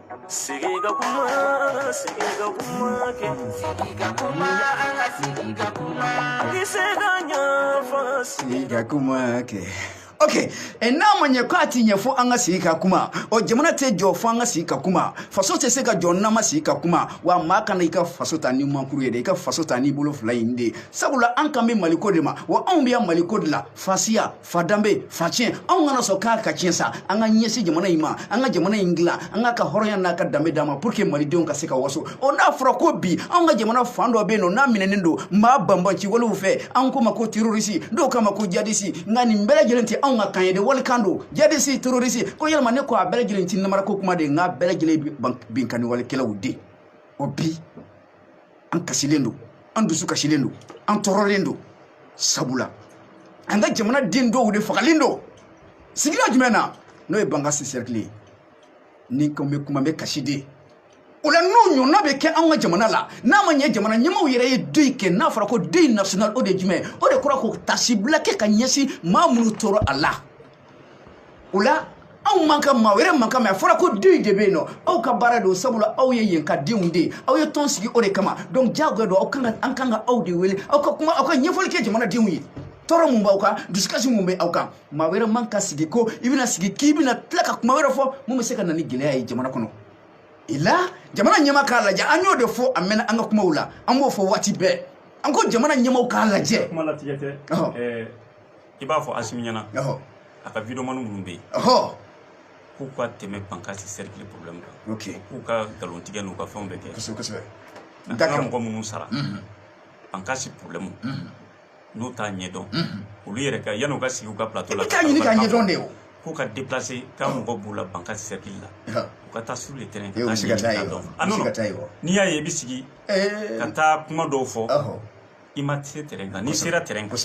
okay ɛ n'a ma ɲɛ ko a ti ɲɛ fo an ka sigi ka kuma ɔ jamana tɛ jɔ fo an ka sigi ka kuma faso tɛ se ka jɔ n'an ma sigi ka kuma wa maa kana i ka faso ta ni mankuru ye dɛ i ka faso ta n'i bolo fila in de sabula an kan bɛ maliko de ma wa anw bɛ yan maliko de la fasiya fa danbe fa tiɲɛ anw kana sɔn k'a ka tiɲɛ sa an ka ɲɛsin jamana in ma an ka jamana in dilan an k'a ka hɔrɔnya n'a ka danbe d'a ma pour que malidenw ka se ka waso o n'a fɔra ko bi anw ka jamana fan dɔ bɛ yen nɔ n'a minɛnen don maa banbaanciwalew fɛ anw k'u ma ko terorisi dɔw k'a ma ko jadisi nka nin bɛɛ lajɛlen tɛ anw ka kan ye de walikan don jadisi terorisi ko yɛlɛma ne ko a bɛɛ lajɛlen ti namarako kuma de ye nk'a bɛɛ lajɛlen binkanni walekɛlaw de o bi an kasilen don an dusu kasilen don an tɔɔrɔlen don sabula an ka jamana den dɔw de fagalen don sigida jumɛn na n'o ye bankasi sɛrikili ye ni ko bɛ kuma bɛ kasi de o la n'o ɲɔgɔnna bɛ kɛ an ka jamana la n'a ma ɲɛ jamana ɲɛmaaw yɛrɛ ye deuil kɛ n'a fɔra ko deuil national o de ye jumɛn o de kɔrɔ ko taasibila kɛ ka ɲɛsin maa minnu tora a la o la anw man ka maa wɛrɛ man ka kuma a fɔra ko deuil de bɛ yen nɔ aw ka baara don sabula aw ye yen ka denw de ye aw ye tɔn sigi o de kama donc diyagoya don aw kan ka an kan ka aw de wele aw ka kuma aw ka ɲɛfɔli kɛ jamanadenw ye tɔɔrɔ mun b'aw kan dusukasi mun bɛ aw kan maa wɛrɛ man ka sigi ko i bɛna sigi k'i bɛna tila ka kuma wɛrɛ fɔ mun bɛ se ka na ni gɛlɛya ye jamana kɔnɔ o la jamana ɲɛmaaw k'a lajɛ an y'o de fɔ a mɛɛnna an ka kumaw la an b'o fɔ waati bɛɛ an ko jamana ɲɛmaaw k'a lajɛ kuma latigɛ tɛ i b'a fɔ asimi ɲɛna a ka videomani minnu bɛ yen k'u ka tɛmɛ bankasi sɛrikili problème kan k'u ka nkalon tigɛ n'u ka fɛnw bɛɛ kɛ an ka mɔgɔ minnu sara bankasi mhm. problème mhm. n'u t'a ɲɛdɔn mhm. olu yɛrɛ ka yan'u ka sigi u ka plateau la k'a ɲini k'a ɲɛdɔn de o k'u ka déplacer k'an mago b'u la bankasi sɛrikili la u ka taa sur le terrain ka taa ɲini k'a dɔn n'i y'a ye i bɛ sigi eh. ka taa kuma dɔw fɔ i ma se terrain kan n'i sera terrain kan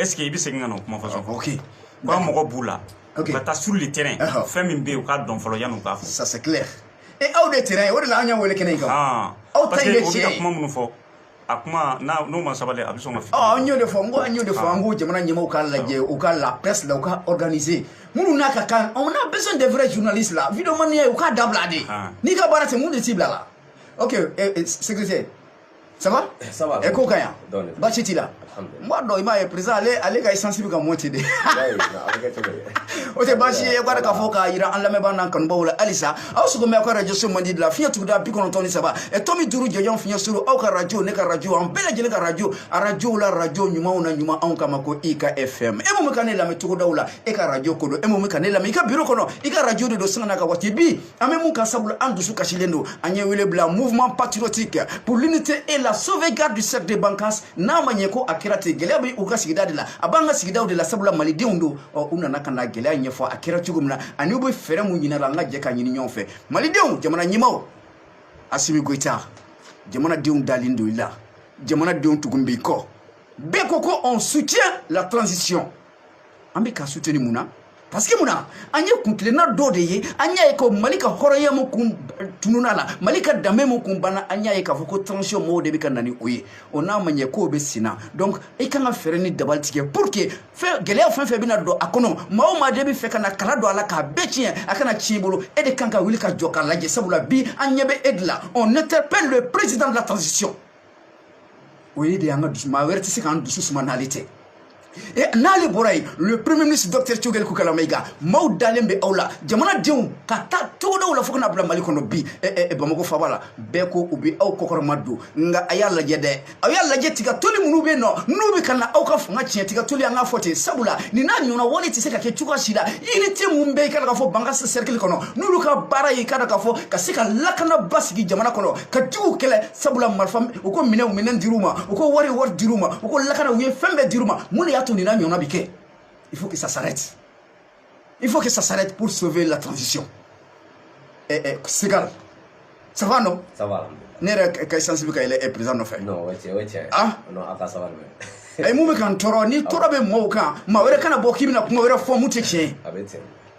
est ce que i bɛ segin ka na o kuma fɔ sɔn ok ko an mago b'u la u ka taa sur le terrain fɛn min bɛ yen u k'a dɔn fɔlɔ yanni u k'a fɔ ça c'est clair e homme de terrain o de la an y'aw wele kɛnɛ in kan aw ta in ye tiɲɛ ye parce que u bɛ ka kuma minnu fɔ a kuma n'o ma sabali a bɛ sɔn ka fili ɔ an y'o de fɔ n ko an y'o de fɔ an ko jamana ɲɛmɔgɔw k'a lajɛ u ka la presse la u ka organiser minnu n'a ka kan on a besoin des vrais journalistes la videomaniya u k'a dabila de n'i ka baara tɛ mun de t'i bila la ok secrétaire ça va eh, ça va e ko ka yan baasi t'i la n b'a dɔn i m'a ye président ale ale ka essence bɛ ka monte de o tɛ baasi ye k'a k'a fɔ k'a jira an lamɛnbaa n'an kanubaaw la halisa aw sogo mɛ aw ka radio so mandi de la fiɲɛ tuguda bi kɔnɔntɔn ni saba ɛ tomi duuru jɔjɔn fiɲɛ suru aw ka radio ne ka radio an bɛɛ lajɛlen ka radio a radiow la radio ɲumanw na ɲuman anw kama ko i ka fm e mun bɛ ka ne lamɛn togodaw la e ka radio ko don e mun bɛ ka ne lamɛn i ka biro kɔnɔ i ka radio de don sanga n'a ka waati bɛɛ an bɛ mun kan sabula an dusu kasilen don an ye wele bila mouvement patriotique pour l'unité et la sauvegarde du cercle de bankass n'a ma ɲɛ ko a kɛra ten gɛlɛya bɛ u ka sigida de la a b'an ka sigidaw de la sabula malidenw don ɔ u nana ka na gɛlɛya ɲɛfɔ a kɛra cogo min na ani u bɛ fɛɛrɛ mun ɲinina an ka jɛ k'a ɲini ɲɔgɔn fɛ malidenw jamana ɲɛmaa asimi goyita jamanadenw dalen don i la jamanadenw tugun b'i kɔ bɛɛ ko ko on soutient la transition an bɛ ka suteni mun na parce que mun na an ye kuntilenna dɔw de ye an y'a ye ko mali ka hɔrɔnya mu kun tununa la mali ka danbe mu kun banna an y'a ye k'a fɔ ko transition mɔgɔw de bɛ ka na ni o ye o n'a ma ɲɛ k'o bɛ sen na donc i kan ka fɛɛrɛ ni dabali tigɛ pour que fɛn gɛlɛya fɛn fɛn bɛna don a kɔnɔ maa o maa de b'a fɛ ka na kala don a la k'a bɛɛ tiɲɛ a kana tiɲɛ i bolo e de kan ka wuli ka jɔ k'a lajɛ sabula bi an ɲɛ bɛ e de la on interpelle le président de la transition o ye de y'an ka dusu maa wɛrɛ tɛ se k'an dusu suma n'ale tɛ e n'ale bɔra yen le premier ministre docteur choguel kokala mayiga maaw dalen bɛ aw la jamanadenw k'a ta togodaw la fo ka na bila mali kɔnɔ bi bamako faaba la bɛɛ ko u bɛ aw kɔkɔrɔma don nka a y'a lajɛ dɛ aw y'a lajɛ tiga toli minnu bɛ yen nɔ n'u bɛ ka na aw ka fanga tiɲɛ tiga toli an k'a fɔ ten sabula nin n'a ɲɔgɔnna wale tɛ se ka kɛ cogoya si la unité minnu bɛ i k'a dɔn k'a fɔ bankass sɛrikili kɔnɔ n'olu ka baara ye i k'a dɔn k'a fɔ ka se ka lakana basigi jamana kɔnɔ ka juguw kɛlɛ sabula marifa u ko minɛnw minɛn dir'u ma u ko wari wari dir'u ma u ko lakana u ye fɛn bɛɛ dir'u ma mun de y'a to nin n'a ɲɔgɔnna bi kɛ il faut que ça s'arrête il faut que ça s'arrête pour sauver la transition eh, eh, segal ça va non ça va ne yɛrɛ ka essence bɛ ka yɛlɛ président nɔfɛ non o ye tiɲɛ o ye tiɲɛ ah non a ka sabali mɛ ayi mun bɛ ka n tɔɔrɔ ni tɔɔrɔ bɛ mɔgɔw kan maa wɛrɛ kana bɔ k'i bɛna kuma wɛrɛ fɔ mun tɛ tiɲɛ ye a bɛ tiɲɛ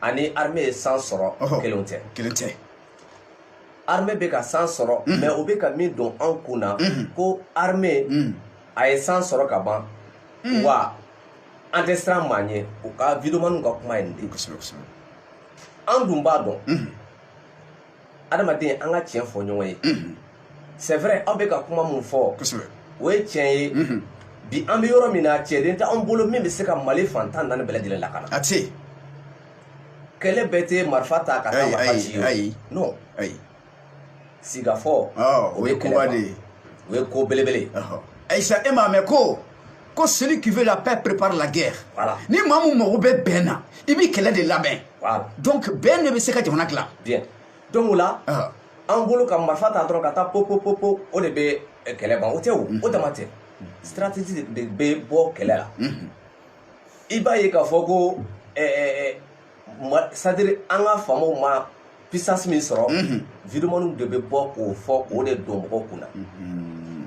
ani armée ye san sɔrɔ kelen tɛ kelen tɛ armée bɛ ka san sɔrɔ mais o bɛ ka min don an kun na ko armée a ye san sɔrɔ ka ban wa an tɛ siran maa ɲɛ u ka videomaniw ka kuma ye nin de ye an dun b'a dɔn adamaden an ka tiɲɛ fɔ ɲɔgɔn ye c'est vrai aw bɛ ka kuma mun fɔ o ye tiɲɛ ye bi an bɛ yɔrɔ min na cɛden tɛ an bolo min bɛ se ka mali fan tan ni naani bɛɛ lajɛlen lakana a tɛ kɛlɛ bɛɛ tɛ marifa ta ka taa marifa ci ye non sigikafɔ o ye koba de ye o ye ko belebele ayisa e m'a mɛn ko ko celui qui veut la paix prépare la guerre voilà. ni maa min mago bɛ bɛn na i b'i kɛlɛ de labɛn voilà. donc bɛn de bɛ se ka jamana dilan bien donc o la uh. an bolo ka marifa ta dɔrɔn ka taa popopopo o de bɛ eh, kɛlɛ ban o tɛ o mm -hmm. o dama tɛ stratégie de bɛ bɔ kɛlɛ la mm -hmm. i b'a ye k'a fɔ ko eh, eh, eh c'est-à-dire an ka faamaw ma puissance min sɔrɔ mhm. vidéomanw de bɛ bɔ k'o fɔ k'o de don mɔgɔw kun na mhm.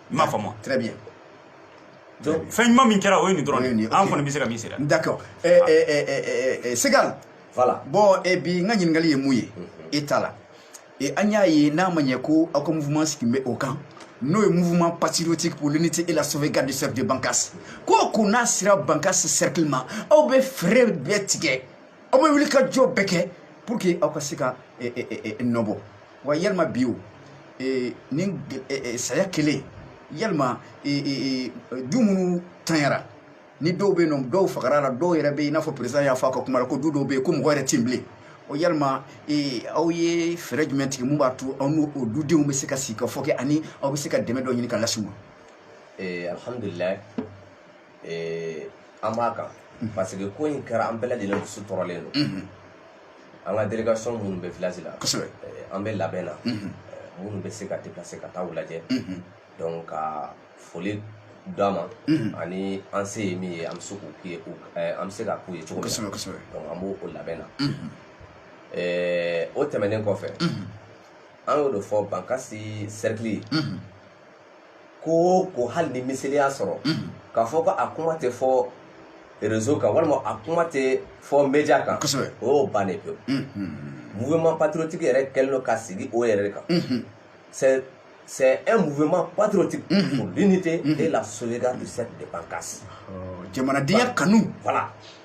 i m'a faamu très bien donc fɛn ɲuman min kɛra o ye nin dɔrɔn de an kɔni bɛ se ka min sera d'accord eh, eh, eh, segal voilà bon bi n ka ɲininkali ye mun ye mm-hmm. e ta la an y'a ye n'a ma ɲɛ ko aw ka mouvement sigilen bɛ o kan n'o ye mouvement patriotique pour l'unité et la sauvegarde du cercle de Bankas ko o ko n'a sera Bankas cercle ma aw bɛ fɛɛrɛ bɛɛ tigɛ aw bɛ wuli ka jɔ bɛɛ kɛ pour que aw ka se ka nɔ bɔ wa yalima bi o ni saya kɛlen yalima du minnu tanyara ni dɔw bɛ yen nɔ dɔw fagara a la dɔw yɛrɛ bɛ yen i n'a fɔ président y'a fɔ a ka kuma la ko du dɔw bɛ yen ko mɔgɔ yɛrɛ tɛ yen bilen o yalima aw ye fɛɛrɛ jumɛn tigɛ mun b'a to aw n'o o dudenw bɛ se ka sigikafɔ kɛ ani aw bɛ se ka dɛmɛ dɔ ɲini ka lase u ma alhamdulilayi eh, an b'a kan mm-hmm. parce que ko in kɛra an bɛɛ lajɛlen dusu tɔɔrɔlen don mm-hmm. an ka délégation minnu bɛ village la kosɛbɛ eh, an bɛ labɛn na mm-hmm. eh, minnu bɛ se ka déplacer ka taa u lajɛ donc ka foli d'a ma ani an se ye min ye an bɛ se k'u k'u ye an bɛ se ka k'u ye cogo min na donc an b'o o labɛn na o tɛmɛnen kɔfɛ an y'o de fɔ bankasi cercle ko o ko hali ni miseli y'a sɔgɔ k'a fɔ ko a kuma tɛ fɔ réseau kan walima a kuma tɛ fɔ média kan o y'o bannen pewu mouvement patriotique yɛrɛ kɛlen don ka sigi o yɛrɛ de kan c'est c'est un mouvement patriotique mm -hmm. pour l'unité mm -hmm. et la sauvegarde du cercle de Bankas. jamanadenya kanu. voilà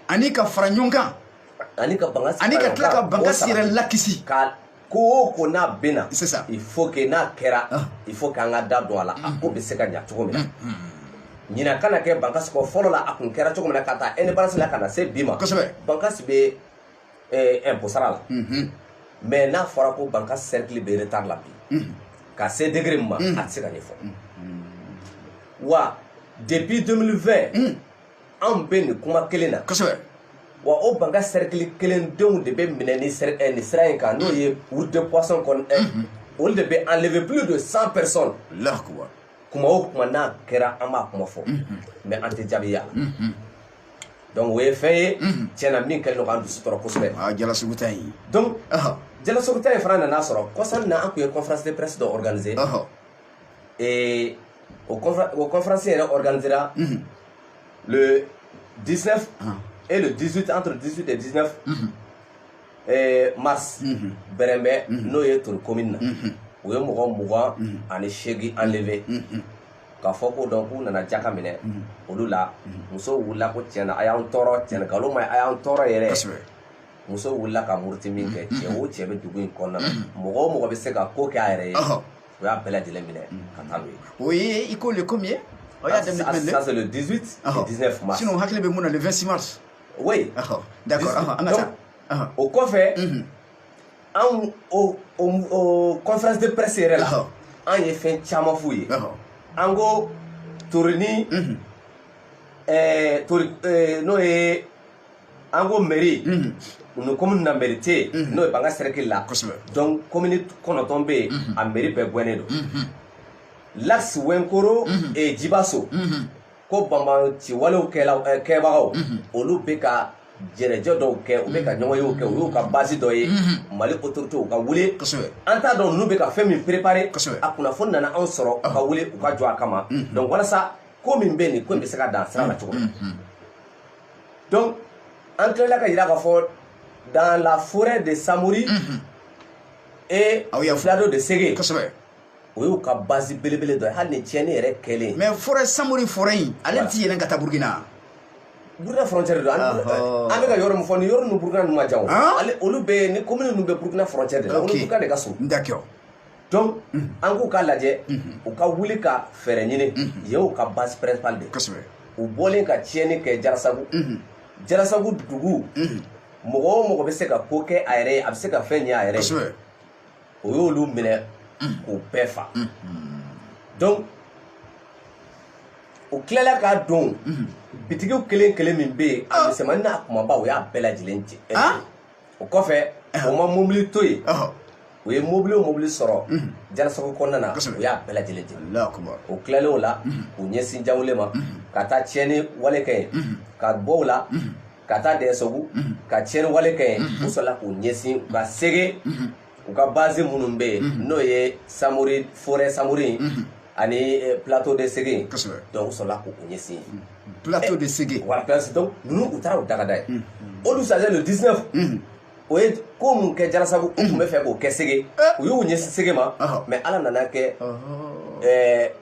ani ka fara ɲɔgɔn kan. ani ka banga ani ka tila ka bankasi yɛrɛ lakisi. ka ko o ko n'a bɛna il faut que n'a kɛra ah. il faut que an ka da don a la a ko bɛ se ka ɲa cogo min na ɲina kana kɛ bankasi kɔ fɔlɔ la a kun kɛra cogo min na k'a ta indépendance la ka na se bi ma bankasi bɛ eh, impôt sara la mais n'a fɔra ko bankasi cercle bɛ retard la bi ka se degré min ma a tɛ se ka ɲɛfɔ wa depuis 2020 anw bɛ nin kuma kelen na kosɛbɛ wa o bankasi cercle kelen denw de bɛ minɛ nin sira eh, nin sira in kan n'o ye route de poisson kɔni eh, mhm. olu de bɛ enlever plus de 100 personnes allahu akbar kuma o kuma n'a kɛra an b'a kuma fɔ mhm. mais an tɛ jaabi y'a la mhm. donc o ye fɛn ye tiɲɛ na min kɛlen don k'an dusu tɔɔrɔ kosɛbɛ ah, jalasagu ta in donc jalasagu ta in fana nana sɔrɔ kɔsa in na an tun ye conférence de presse dɔ organiser Et o, confé o conférence yɛrɛ organisera mm -hmm. le 19 ah. et le 18 entre 18 et 19 mm -hmm. et mars mm -hmm. bɛrɛnbɛ mm -hmm. n'o ye tori commune na mm -hmm. u ye mɔgɔ mugan mm -hmm. ani seegin enlevé mm -hmm. k'a fɔ ko donc u nana jaka minɛ mm -hmm. olu la mm -hmm. musow wulila ko tiɲɛna a y'an tɔɔrɔ tiɲɛna nkalon ma ye a y'an tɔɔrɔ yɛrɛ musow wulila ka muruti min kɛ cɛ o cɛ bɛ dugu in kɔnɔna na mɔgɔ o mɔgɔ bɛ se ka ko kɛ a yɛrɛ ye o y'a bɛɛ lajɛlen minɛ ka taa n'o ye o ye i ko le komi ye aw y'a daminɛ jumɛn de ça c'est le 18 et 19 mars sinon n hakili bɛ min na le 26 mars oui d'accord an ka taa o kɔfɛ anw o o conférence de presse yɛrɛ la an ye fɛn caman f'u ye an ko torini tori n'o ye an ko meri ni komini na meri tɛ yen n'o ye bankasi sɛrɛkili la donc komini kɔnɔntɔn bɛ yen a meri bɛɛ gɛnnen don lasi wɛnkoro jibaso ko banbaanciwalew kɛbagaw olu bɛ ka jɛnɛjɛ dɔw kɛ u bɛ ka ɲɔgɔnyew kɛ o y'u ka base dɔ ye mali autorité u ka wuli an t'a dɔn ninnu bɛ ka fɛn min préparer a kunnafoni nana anw sɔrɔ u ka wuli u ka jɔ a kama donc walasa ko min bɛ nin ko in bɛ se ka dan sira la cogo min donc an tilala ka yira k'a fɔ dans la forêt de samori et Aw y'a fɔ. plateau de sege kosɛbɛ o y'u ka base belebele dɔ ye hali ni tiɲɛni yɛrɛ kɛlen mais forêt samori forêt in ale ti yɛlɛn ka taa burukina burukina frontière don an Ɔhɔ. an bɛ ka yɔrɔ min fɔ nin yɔrɔ ninnu burukina ninnu ma jan o Han? ale olu bɛ nin commune ninnu bɛ burukina frontière de la olu Ok. burukina de ka surun d'accord donc an k'u ka lajɛ u ka wuli ka fɛɛrɛ ɲini yen u ka base principal de u bɔlen ka tiɲɛni kɛ jarasagu jarasagu dugu mɔgɔ o mɔgɔ bɛ se ka ko kɛ a yɛrɛ ye a bɛ se ka fɛn ɲɛ a yɛrɛ ye o y'olu minɛ k'u bɛɛ fa donc u tilala ka don bitigiw kelen kelen min bɛ yen a misɛnmanin n'a kumaba o y'a bɛɛ lajɛlen jɛ o kɔfɛ o ma mobili to yen u ye mobili o mobili sɔrɔ jarasagu kɔnɔna na u y'a bɛɛ lajɛlen ci o tilalen o la k'u ɲɛsin jawule ma ka taa tiɲɛni wale kɛ yen ka bɔ o la ka taa dɛsagu ka tiɲɛni wale kɛ yen u sɔrɔla k'u ɲɛsin u ka sege u ka base minnu bɛ yen mhm. n'o ye samori forêt samori in mhm. ani eh, plateau de sege in donc u sɔrɔla k'u ɲɛsin yen mhm. plateau de sege eh, voilà plateau donc ninnu u taara u daga da yen o dugusajɛ le 19 u ye ko min kɛ jarasagu u tun bɛ fɛ k'o kɛ sege eh. u y'u ɲɛsin sege ma mais ala nana kɛ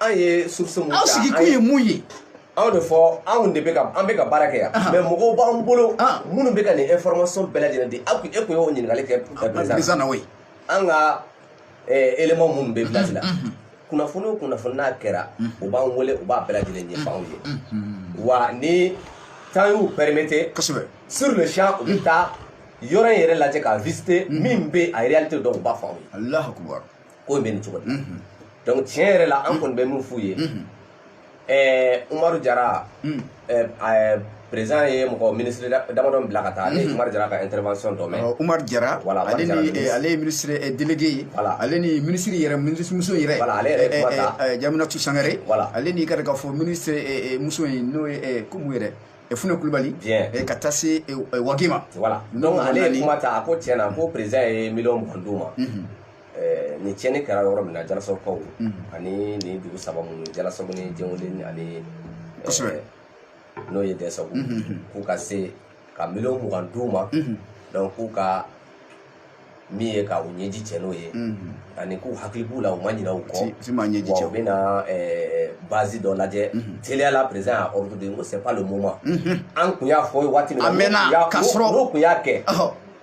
an ye source mun ta aw sigikun ye mun ye anw de fɔ anw de bɛ ka an bɛ ka baara kɛ yan mais mɔgɔw b'an bolo minnu bɛ ka nin information bɛɛ lajɛlen di aw kun e kun y'o ɲininkali kɛ président na o ye an ka élément minnu bɛ village la kunnafoni o kunnafoni n'a kɛra u b'an wele u b'a bɛɛ lajɛlen ɲɛfɔ anw ye wa ni temps y'u permettre kosɛbɛ sur le champ u bɛ taa yɔrɔ in yɛrɛ lajɛ ka visiter min bɛ a réalité dɔn u b'a fɔ anw ye ko in bɛ nin cogo la donc tiɲɛ yɛrɛ la an kɔni bɛ min f'u ye ɛɛ umaru jara ɛɛ président ye mɔgɔ ministre damadɔ bila ka taa ne ye umaru jara ka intervention dɔ mɛn umaru jara voilà ale ni ale ye ministre délégué ye voilà ale ni ministre yɛrɛ ministre muso yɛrɛ voilà ale yɛrɛ kuma ta jaminatu sangare voilà ale ni ka taa fo ministre muso in n'o ye ko mun yɛrɛ fune kulubali ka taa se wage ma voilà donc ale ye kuma ta a ko tiɲɛ na ko président ye miliyɔn mugan d'u ma Ɛɛ nin tiɲɛni kɛra yɔrɔ min na jalasagukaw ani nin dugu saba minnu jalasagu ni jɛnweli ani kosɛbɛ n'o ye dɛsagu k'u ka se ka miliyɔn mugan d'u ma donc k'u ka min ye ka u ɲɛji cɛ n'o ye ani k'u hakili b'u la u ma ɲinɛ u kɔ ti ma ɲɛji cɛ u bɛna bazi dɔ lajɛ teliya la président y'a ordre di ko c'est pas le moment an kun y'a fɔ waati min na a mɛnna ka sɔrɔ n'u kun y'a kɛ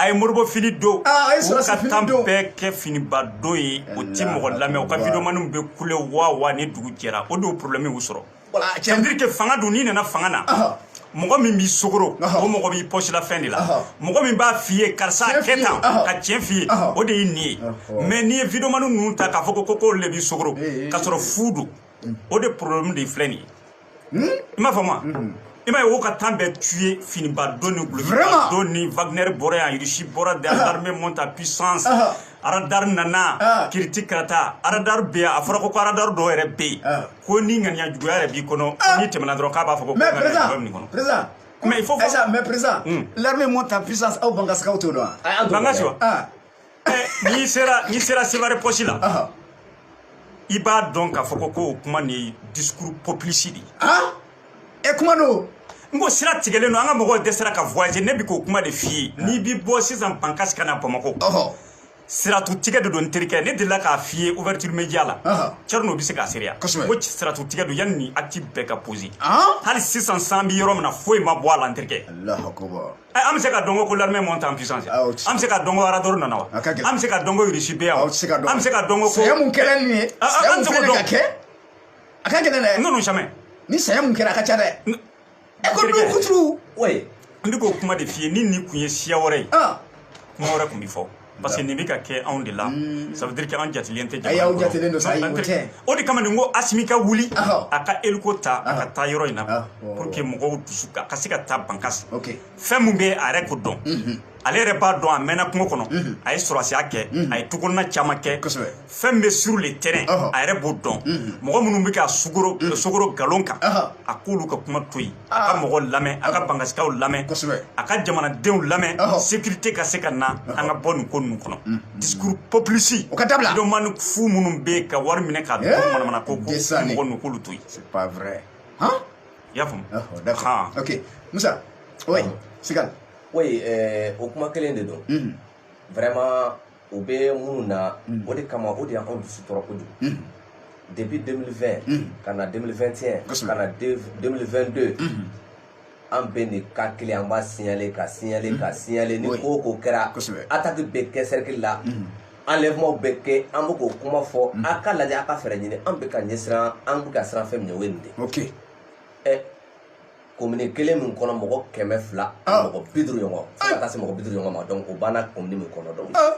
a ye moribo fini don ah, u ka temps bɛɛ kɛ finiba don ye o ti mɔgɔ lamɛn u ka videomaniw bɛ kule waa waa ni dugu jɛra o de problème y'u sɔrɔ c'est-à-dire que fanga dun n'i nana fanga na mɔgɔ min b'i sogoro o mɔgɔ b'i pɔsila fɛn de la mɔgɔ min b'a f'i ye karisa kɛ tan ka tiɲɛ f'i ye o de ye nin ye mais n'i ye videomaniw ninnu ta k'a fɔ ko ko k'olu le b'i sogoro k'a sɔrɔ fu don o de problème de filɛ nin ye i m'a faamu wa i m'a ye o ka temps bɛɛ tun ye finiba don ni dulɔkiba don ni wagner bɔra yan irisi bɔra de armée monte en puissance aradar nana kiriti karata aradar bɛ yan a fɔra ko ko aradar dɔw yɛrɛ bɛ yen ko ni ŋaniya juguya yɛrɛ b'i kɔnɔ n'i tɛmɛna dɔrɔn k'a b'a fɔ ko ŋaniya juguya bɛ nin kɔnɔ mais il faut mais président l'armée monte en puissance aw bankasikaw t'o dɔn wa bankasi wa n'i sera n'i sera sevare posi la i b'a dɔn k'a fɔ ko ko o kuma nin ye discours populiste de ye e kuma don n ko sira tigɛlen don an ka mɔgɔw dɛsɛra ka voyager ne bi k'o kuma de f'i ye n'i bi bɔ sisan bankasi ka na bamakɔ sira tun tigɛ de don n terikɛ ne delila k'a f'i ye ouverture média la cɛrinɔ bɛ se k'a seereya ko sira tun tigɛ don yanni nin acte bɛɛ ka poser hali sisan sa an bi yɔrɔ min na foyi ma bɔ a la n terikɛ an bɛ se k'a dɔn ko ko l'armée monte en puissance an bɛ se k'a dɔn ko aradar nana wa an bɛ se k'a dɔn ko irisi bɛ yan an bɛ se k'a dɔn ko ko sɛgɛn mun kɛra nin ye sɛgɛn mun fɛnɛ ka kɛ a ka gɛlɛn dɛ n'olu sɛmɛ ni sɛgɛn mun kɛra a ka ca dɛ ɛ ko n'u kuturu n bɛ k'o kuma de f'i ye ni nin kun ye siya wɛrɛ ye kuma wɛrɛ kun bi fɔ parce que nin bɛ ka kɛ anw de la ça veut dire que an jatilen tɛ jamana kɔnɔ jatilen don sa ayi o tɛ o de kama ne ko Asimi ka wuli a ka eliko ta a ka taa yɔrɔ in na pour que mɔgɔw dusu a ka se ka taa bankasi fɛn min bɛ a yɛrɛ k'o dɔn ale yɛrɛ b'a dɔn a mɛnna kungo kɔnɔ a ye sɔrɔdasiya kɛ a ye tukɔnɔna caman kɛ fɛn min bɛ sur le terrain a yɛrɛ b'o dɔn mɔgɔ minnu bɛ ka sugoro sogoro galon kan a k'olu ka kuma to yen a ka mɔgɔ lamɛn a ka bankasikaw lamɛn a ka jamanadenw lamɛn sécurité ka se ka na an ka bɔ nin ko ninnu kɔnɔ mm, mm. discours populiste o ka dabila vidéoman fu minnu bɛ ka wari minɛ ka don eh, manamana ko kɔ mɔgɔ ninnu k'olu to yen c'est pas vrai i y'a faamu d'accord ok Musa oui Sigal oui eh, o kuma kelen de don mm. vraiment o bɛ minnu na mm. o de kama o de y'anw dusu tɔɔrɔ kojugu mm. depuis 2020 mm. ka na 2021 ka na 2022 an bɛ nin ka kelen an b'a signaler k'a signaler k'a signaler ni ko o ko kɛra attaque bɛ kɛ cercle la enlèvement bɛ kɛ an bɛ k'o kuma fɔ a k'a lajɛ a ka fɛɛrɛ ɲini an bɛ ka ɲɛsiran an bɛ ka siran fɛn min ɲɛ o ye nin de ye. komini kelen min kɔnɔ mɔgɔ kɛmɛ fila ah. mɔgɔ bi duuru ɲɔgɔn fo ka ah. taa se mɔgɔ bi duuru ɲɔgɔn ma donc o banna komini min kɔnɔ donc ah.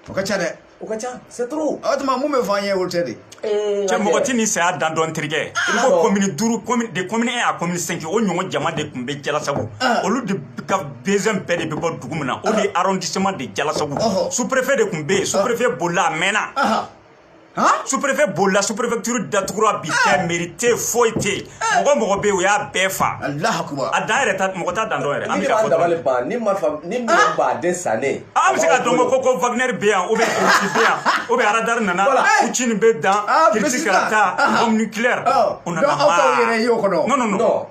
o ka ca dɛ o ka ca c'est trop o tuma mun bɛ fɔ an ye olu tɛ dɛ eh, cɛ mɔgɔ tɛ nin saya dan dɔn terikɛ i ko komini duuru komini de komini un à komini cinq o ɲɔgɔn jama de tun bɛ jalasago olu de ka besoin bɛɛ de bɛ bɔ dugu min na o de ye arrondissement de jalasago sous-préfet de tun bɛ yen sous-préfet bolila a mɛnna sous-préfet bolila sous-préfecture datugura bi fɛn mairie tɛ foyi tɛ yen mɔgɔ mɔgɔ bɛ yen u y'a bɛɛ faa a dan yɛrɛ tɛ mɔgɔ t'a dan dɔn yɛrɛ an bɛ ka fɔ dɔrɔn ni ma fa ni min ba den sannen an bɛ se ka dɔn ko ko Wagner bɛ yan ou bien Russie bɛ yan ou bien radar nana Poutine bɛ dan Russie ka taa bombe nucléaire o nana maa non non non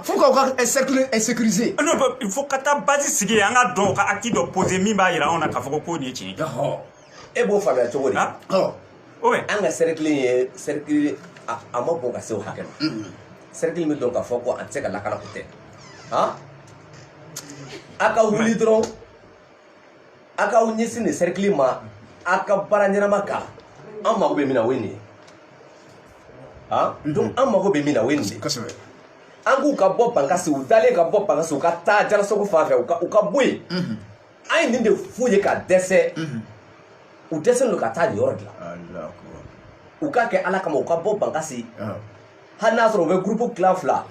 fo k'aw ka sécuriser non il faut ka taa base sigi yen an ka dɔn ka acte dɔ poser min b'a jira anw na k'a fɔ ko ko nin ye tiɲɛ ye e b'o faamuya cogo di an ka sɛrɛkili ye sɛrɛkili a man bon ka se o hakɛ ma sɛrɛkili bɛ dɔn k'a fɔ ko a tɛ se ka lakana ko tɛ a ka wuli dɔrɔn a k'a ɲɛsin nin sɛrɛkili ma a ka baara ɲɛnama kɛ an mago bɛ min na o ye nin ye donc an mago bɛ min na o ye nin de ye an k'u ka bɔ bankasi u dalen ka bɔ bankasi u ka taa jalasogo fan fɛ u ka bɔ yen an ye nin de f'u ye ka dɛsɛ u dɛsɛlen don ka taa nin yɔrɔ dilan u k'a kɛ ala kama u ka bɔ bankasi hali n'a sɔrɔ u bɛ gurupu tila fila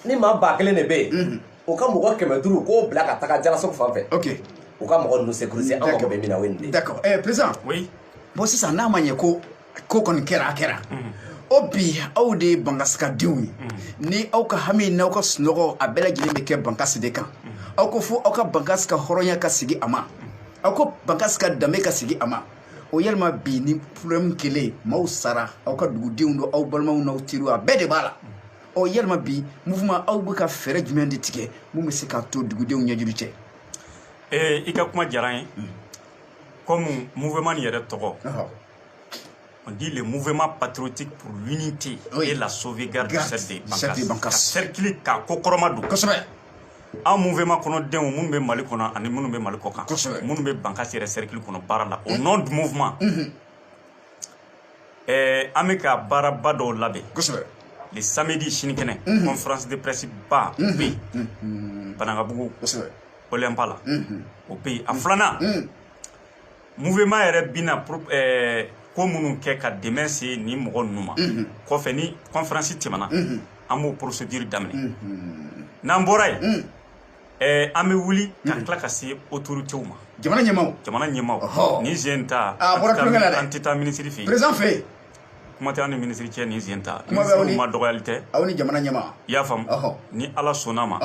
ni maa ba kelen de bɛ yen u ka mɔgɔ kɛmɛ duuru k'o bila ka taga jalasogo fan fɛ u ka mɔgɔ ninnu sécuriser an mago bɛ min na o ye nin de ye. d'accord ɛɛ président oui bon sisan n'a ma ɲɛ ko ko kɔni kɛra a kɛra o bi aw de ye bankasikadenw ye ni aw ka hami n'aw ka sunɔgɔ a bɛɛ lajɛlen bɛ kɛ bankasi de kan aw ko fo aw ka bankasi ka hɔrɔnya ka sigi a ma aw ko bankasi ka danbe ka sigi a ma o yalima bi ni problème kɛlen maaw sara aw ka dugudenw don aw balimaw n'aw teriw a bɛɛ de b'a la ɔ yalima bi mouvement aw bɛ ka fɛɛrɛ jumɛn de tigɛ min bɛ se k'a to dugudenw ɲɛji cɛ ee i ka kuma diyara n ye komi mouvement nin yɛrɛ tɔgɔ on dit le mouvement patriotique pour l'unité oui. et la sauvegarde du cercle de Bankas. Cercle ka kɔkɔrɔmadon. Kosɛbɛ. An mouvement kɔnɔdenw minnu bɛ Mali kɔnɔ ani minnu bɛ Mali kɔkan. Kosɛbɛ. Minnu bɛ Bankas yɛrɛ cercle kɔnɔ baara la. Au nom du mouvement. Unhun. Ɛɛ an bɛ ka baaraba dɔw labɛn. Kosɛbɛ. Le samedi sinikɛnɛ. Unhun. Conférence de presse ba bɛ yen. Unhun. Banankabugu. Kosɛbɛ. Olympa la. Unhun. O bɛ yen. A filanan. Unhun. mouvement yɛrɛ bina pour eh, ko minnu kɛ ka dɛmɛ se nin mɔgɔ ninnu ma mhm. kɔfɛ ni conférence tɛmɛna mhm. an b'o procédure daminɛ mhm. n'an bɔra yen eh, an bɛ wuli ka tila ka se autorités ma jamana ɲɛmaaw jamana ɲɛmaaw nin sen ta ah, an tɛ taa minisiri fɛ yen président fɛ yen kuma tɛ an ni minisiri cɛ nin sen ta minisiriw ma dɔgɔyali tɛ aw ni jamana ɲɛmaa i y'a faamu ni ala sɔnna ma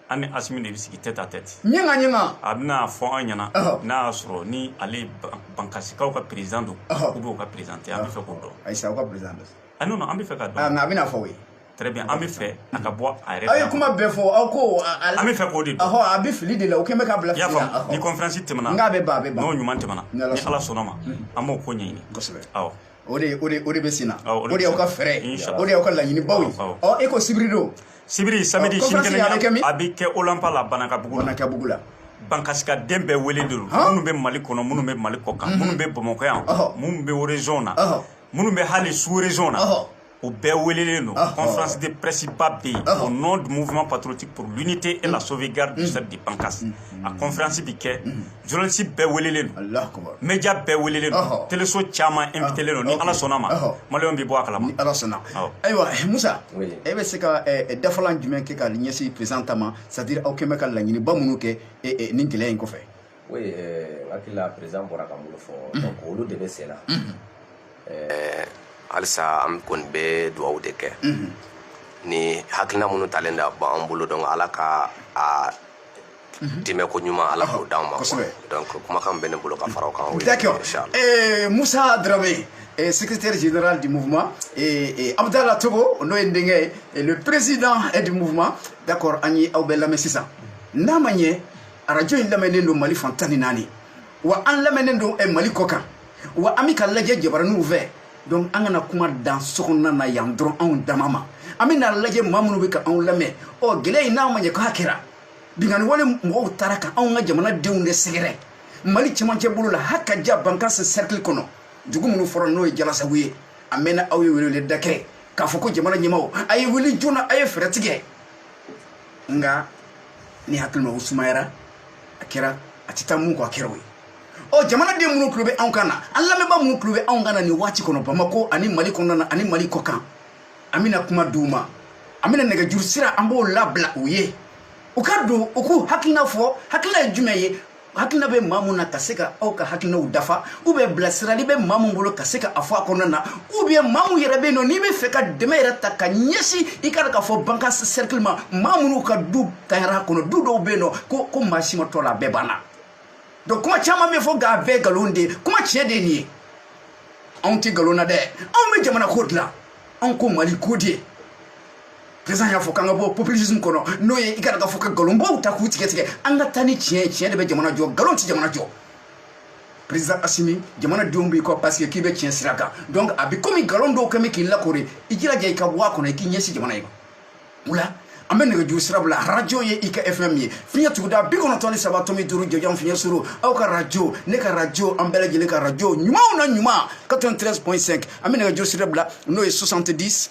an ni asimi de bɛ sigi tête à tête ɲɛga ɲɛga a bɛna fɔ an ɲɛna n'a y'a sɔrɔ ni ale bankasikaw ka président don ou bien u ka président tɛ an bɛ fɛ k'o dɔn a y'a sɔrɔ aw ka président don a n'o an bɛ fɛ ka dɔn nka a bɛna fɔ o ye très bien an bɛ fɛ a ka bɔ a yɛrɛ aw ye kuma bɛɛ fɔ aw ko an bɛ fɛ k'o de dɔn a bɛ fili de la o kɛlen bɛ k'a bila fili la i y'a faamu ni conférence tɛmɛna n k'a bɛ ban a bɛ ban n'o ɲuman tɛmɛna ni Ala sɔnna ma an b'o ko ɲɛɲini kosɛbɛ awɔ o de o de o de bɛ senna ah, o de y'aw ka fɛɛrɛ ye o de y'aw ka laɲinibaw ye ɔ e ko sibiri don sibiri samedi sinikɛnɛ a bɛ kɛ min a bɛ kɛ olanpa la banankabugu la banankabugu la bankasikaden bɛɛ wele de don minnu bɛ mali kɔnɔ minnu bɛ mali kɔkan minnu bɛ bamakɔ yan minnu bɛ région na minnu bɛ hali sous région na o bɛɛ welelen don conférence de presse ba bɛ yen au nom du mouvement patriotique pour l'unité et la sauvegarde du cercle de Bankas a conférence bɛ kɛ journaliste bɛɛ welelen don média bɛɛ welelen don teleso caman invitelen don ni Ala sɔnna ma maliyɛnw bɛ bɔ a kalama ni Ala sɔnna ayiwa Musa e bɛ se ka dafalan jumɛn kɛ ka ɲɛsin président ta ma c'est à dire aw kɛlen bɛ ka laɲiniba minnu kɛ nin gɛlɛya in kɔfɛ Oui, euh, hakili la président bɔra ka minnu fɔ mhm. donc olu de bɛ senna mhm. euh, halisa an kɔni bɛ dugawu de kɛ mhm. ni hakilina minnu talen da bɔ an bolo donc ala ka a dɛmɛ ko ɲuman ala k'o d'an ma donc kumakan bɛ ne bolo ka fara o kan d'accord euh, Moussa Dramé et secrétaire général du mouvement, et, et Abdallah Togo, le président du mouvement, d'accord, an ye aw bɛɛ lamɛn sisan. Namanye, arajo in lamɛnnen don mali fan tan ni naani wa an lamɛnnen don eh, mali kɔ kan wa an bɛ ka lajɛ jabaraniw fɛ donc an kana kuma dan sokɔnɔna na yan dɔrɔn anw dama ma an bɛ na lajɛ maa minnu bɛ ka anw lamɛn ɔ gɛlɛya in n'a ma ɲɛ k'a kɛra binkanni wale mɔgɔw taara ka anw ka jamana denw de sɛgɛrɛ mali cɛmancɛ bolo la haka ja bankasi cercle kɔnɔ dugu minnu fɔra n'o ye jalasagu ye a mɛnna aw ye weleweleda kɛ k'a fɔ ko jamana ɲɛmaaw a ye wuli joona a ye fɛɛrɛ tigɛ nka ne hakili ma o sumayara a kɛra a tɛ taa mun kɔ a kɛra o ye ɔ jamanaden minnu tulo bɛ anw kan na an lamɛnba minnu tulo bɛ anw kan na nin waati kɔnɔ bamakɔ ani mali kɔnɔna na ani mali kɔ kan an bɛna kuma d'u ma an bɛna nɛgɛjuru sira an b'o labila u ye u ka don u k'u hakilina fɔ hakilina ye jumɛn ye hakilina bɛ maa mun na ka se ka aw ka hakilinaw dafa ou bien bilasirali bɛ maa mun bolo ka se ka a fɔ a kɔnɔna na ou bien maa mun yɛrɛ bɛ yen nɔ n'i bɛ fɛ ka dɛmɛ yɛrɛ ta ka ɲɛsin i kana k'a fɔ bankasi sɛrikili ma maa minnu ka du tanyara kɔnɔ du dɔw bɛ yen nɔ ko ko maa si ma to a la a bɛɛ banna donc kuma caman bɛ fɔ nka a bɛɛ nkalon de ye kuma tiɲɛ de ye nin ye anw tɛ nkalon na dɛ anw bɛ jamana ko dilan anw ko mali ko de ye président y'a fɔ k'an ka bɔ populisme kɔnɔ n'o ye i kana k'a fɔ ka nkalonbaw ta k'u tigɛ tigɛ an ka taa ni tiɲɛ ye tiɲɛ de bɛ jamana jɔ nkalon tɛ jamana jɔ président asimi jamanadenw b'i kɔ parce que k'i bɛ tiɲɛ sira kan donc a bɛ komi nkalon dɔw kɛ bɛ k'i lakoori i jilaja i ka bɔ a kɔnɔ i k'i ɲɛsin jamana ye o la an bɛ nɛgɛjuru sira bila arajo ye i ka fm ye fiɲɛ tuguda bi kɔnɔntɔn ni saba tɔmi duuru jɔjan fiɲɛ surun aw ka arajo ne ka arajo an bɛɛ lajɛlen ka arajo ɲumanw na ɲuman 93.5 an bɛ nɛgɛjuru sira bila n'o ye 70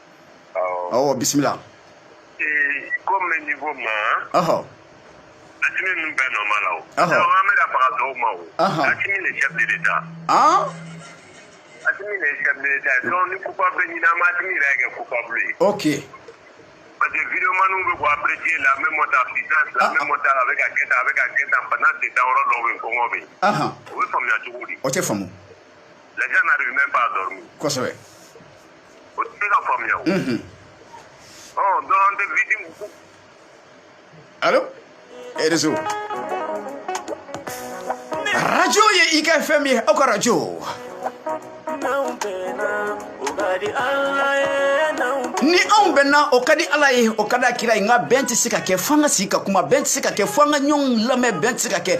ɔ bisimila ko min ni ko ma asimi ninnu bɛɛ nɔ ma la o an bɛ ka faga dɔw ma o asimi de chef de l'État asimi de ye chef de l'État ye donc ni coupable ɲinina asimi yɛrɛ kɛ coupable ye ok parce que videomaniw bɛ bɔ apprécier l'armée monte en puissance l'armée monte a bɛ ka kɛ tan a bɛ ka kɛ tan bana tɛ dan yɔrɔ dɔw bɛ yen kɔngɔ bɛ yen o bɛ faamuya cogo di o tɛ faamu les gens n'arrivent même pas à dormir kosɛbɛ o tɛ ka faamuya o ɔ dɔn an tɛ victime ko alo réseau radio ye i ka fm ye aw ka radio ni anw bɛnna o ka di ala ye o ka di a kira ye nka bɛn tɛ se ka kɛ fo an ka sigi ka kuma bɛn tɛ se ka kɛ fo an ka ɲɔgɔn lamɛn bɛn tɛ se ka kɛ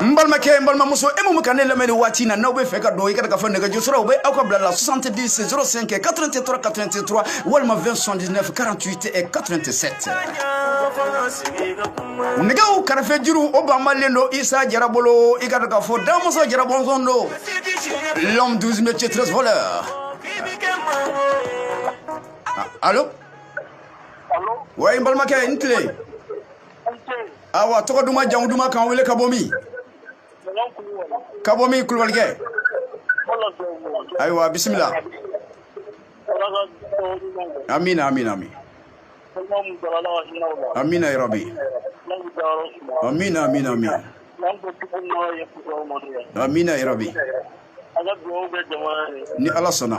n balimakɛ n balimamuso e mun bɛ ka ne lamɛn nin waati na n'aw bɛ fɛ ka don i ka k'a fɔ nɛgɛjuru sira o bɛ aw ka bila la 70 05 83 83 walima 20 79 48 et 87 nɛgɛw kɛrɛfɛ juru o banbalen don isa jara bolo i ka dɔn k'a fɔ damɔnzɔn jara bɔnsɔn don l'homme 12 métiers 13 voleur allo wa n balimakɛ i ni tile awa tɔgɔ duman jamu duman k'an wele ka bɔ min ka bɔ min kulubalikɛ ayiwa bisimila amina amina amin amina yarabi amina amina amin amina yarabi ni ala sɔnna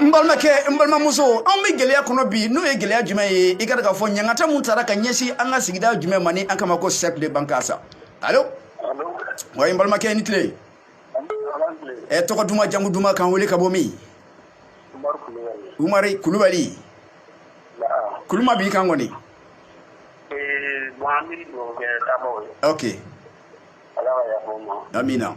n balimakɛ n balimamuso anw bɛ gɛlɛya kɔnɔ bi n'o ye gɛlɛya jumɛn ye i ka k'a fɔ ɲangata min taara ka ɲɛsin an ka sigida jumɛn ma ni an k'a ma ko cercle de Bankass alo wa n balimakɛ ni tile ɛ tɔgɔ duman jamu duman k'an wele ka bɔ min umari kulubali kuluma b'i kan kɔni ok amina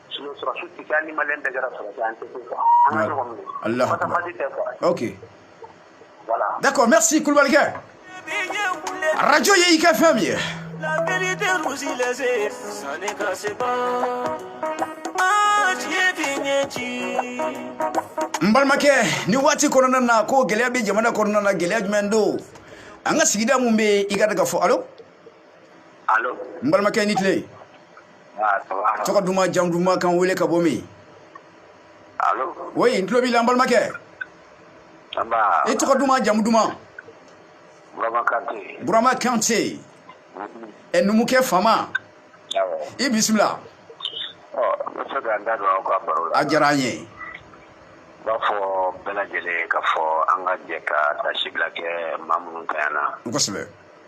D'accord merci kulubalikɛ arajo ye i ka fɛn min ye n balimakɛ nin waati kɔnɔna na ko gɛlɛya bɛ jamana kɔnɔna na gɛlɛya jumɛn don an ka sigida minnu bɛ i ka k'a fɔ alo alo n balimakɛ ni tile tɔgɔ duman jamu duman k'an wele ka bɔ min woyi n tulo b'i la n balimakɛ i tɔgɔ duman jamu duman burama kante ɛ numukɛ fama i bisimila a diyara an ye b'a fɔ bɛɛ lajɛlen ka fɔ an ka jɛ ka taasibila kɛ maa minnu tanyana kosɛbɛ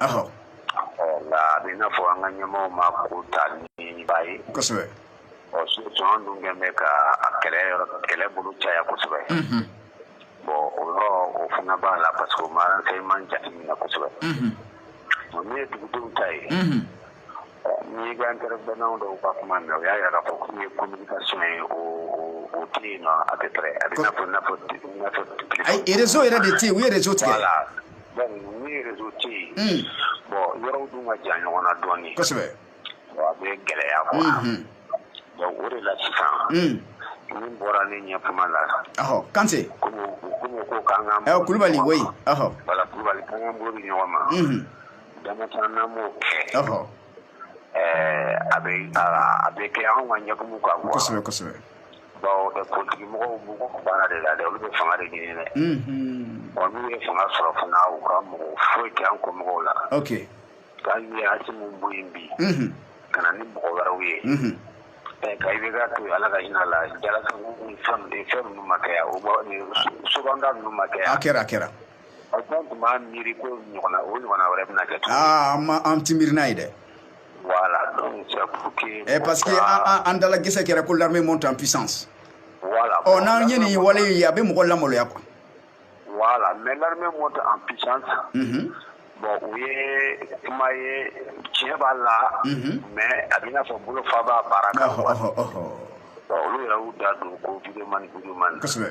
nka a bɛ i n'a fɔ an ka ɲɛmɔgɔw ma ko ta ni ba ye kosɛbɛ ɔ sɔn dun kɛn bɛ ka a kɛlɛ yɔrɔ kɛlɛ bolo caya kosɛbɛ bon o yɔrɔ o fana b'a la parce que o ma renseignement jateminɛ kosɛbɛ o min ye dugudenw ta ye N'i ka intervenant dɔw ka kuma mɛn o y'a yira k'a fɔ ko communication o tɛ yen nɔ à peu près a bɛ i n'a fɔ rezo yɛrɛ de tɛ u yɛrɛ rezo tigɛ la ni rezo tɛ yen bon yɔrɔw dun ka jan ɲɔgɔn na dɔɔnin kosɛbɛ a bɛ gɛlɛya quoi donc o de la sisan min bɔra ne ɲɛ kuma la kan kulubali kulubali ɲɔgɔn ma a bɛ a bɛ kɛ anw ka ɲɛkumu kan quoi kosɛbɛ kosɛbɛ bawo ɛ politique mɔgɔw b'u ka baara de la dɛ olu bɛ fanga de ɲini dɛ unhun bon n'u ye fanga sɔrɔ fana u ka mako foyi tɛ an kɔ mɔgɔw la ok hali ni Asimi bɔ yen bi unhun ka na ni mɔgɔ wɛrɛw ye unhun ɛ ka IBK to yen Ala ka hinɛ a la Jalasagu fɛn ninnu ma kɛ yan o bɔ nin Sobanda ninnu ma kɛ yan a kɛra a kɛra Aw tun b'a miiri ko ɲɔgɔn o ɲɔgɔn wɛrɛ bɛna kɛ aa ma an ti miiri n'a ye dɛ ɛ parce que an da la gɛsɛ kɛra ko l'armée monte en puissance ɔ n'an ye nin wale ye a bɛ mɔgɔ lamaloya quoi voilà mais l'armée monte en puissance bon o ye kuma ye tiɲɛ b'a la mais a bɛ n'a fɔ bolo fa b'a baara kan olu yɛrɛ' da don ko videoman videoman kosɛbɛ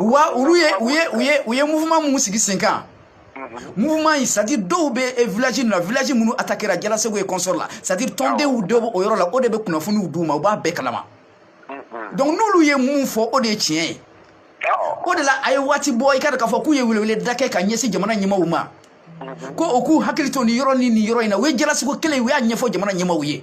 wa olu ye u ye u ye u ye mouvement min sigi sen kan mouvement in c'est à dire dɔw bɛ eh, village nin na village minnu attaquera Jalasagu et consorts la c'est à dire tɔndenw dɔ bɛ o yɔrɔ la o de bɛ kunnafoniw d'u ma u b'a bɛɛ kalama donc n'olu ye mun fɔ o de ye tiɲɛ ye o de la a ye waati bɔ i k'a dɔn k'a fɔ k'u ye weleweleda kɛ ka ɲɛsin jamana ɲɛmaaw ma ko u k'u hakili to nin yɔrɔ ni nin yɔrɔ in na u ye Jalasagu kelen u y'a ɲɛfɔ jamana ɲɛmaaw ye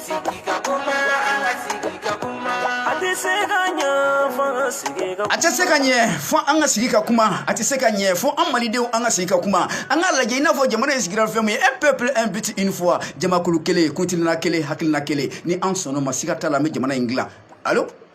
a tɛ se ka ɲɛ fo an ka sigi ka kuma a tɛ se ka ɲɛ fo an malidenw an ka sigi ka kuma an k'a lajɛ i n'a fɔ jamana in sigira fɛn min ye un peuple un but une foi jamakulu kelen kuntilenna kelen hakilina kelen ni an sɔnn'o ma siga t'a la an bɛ jamana in dilan alo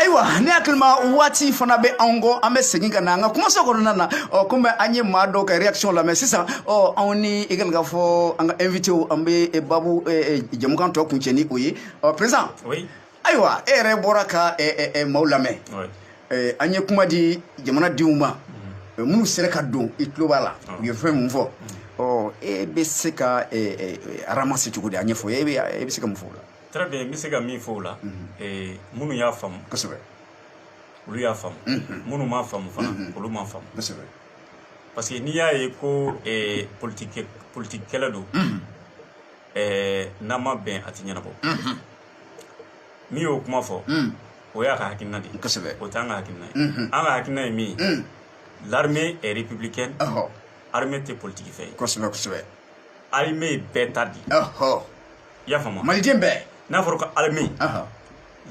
ayiwa ne hakili la waati fana bɛ anw kɔ an bɛ segin ka na an ka kumaso kɔnɔna na ɔ komi an ye maa dɔw ka reaction lamɛn sisan ɔ anw ni i ka fɔ an ka invité an bɛ babu jɛmukan tɔ kuncɛ ni o ye ɔ perezan ayiwa e yɛrɛ bɔra ka maaw lamɛn an ye kuma di jamanadenw ma mm. minnu sera ka don i tulo b'a la u ye fɛn min fɔ mm. ɔ e bɛ se k'a ramasser cogo di a ɲɛfɔ e bɛ se ka mun fɔ o la très bien n bɛ se ka min fɔ o la mm-hmm. minnu y'a faamu kosɛbɛ olu y'a faamu mm-hmm. minnu m'a faamu fana mm-hmm. olu m'a faamu kosɛbɛ parce que n'i y'a ye ko politikɛla don ɛɛ n'a ma bɛn a tɛ ɲɛnabɔ min y'o kuma fɔ o y'a ka hakilina de ye kosɛbɛ o t'an ka hakilina ye an ka hakilina ye min ye l'armée est républicaine ɔhɔ armée tɛ politiki fɛn ye kosɛbɛ kosɛbɛ armée ye bɛɛ ta de ye ɔhɔ i y'a faamu wa? maliden bɛɛ n'a fɔra ko armée ɔhɔ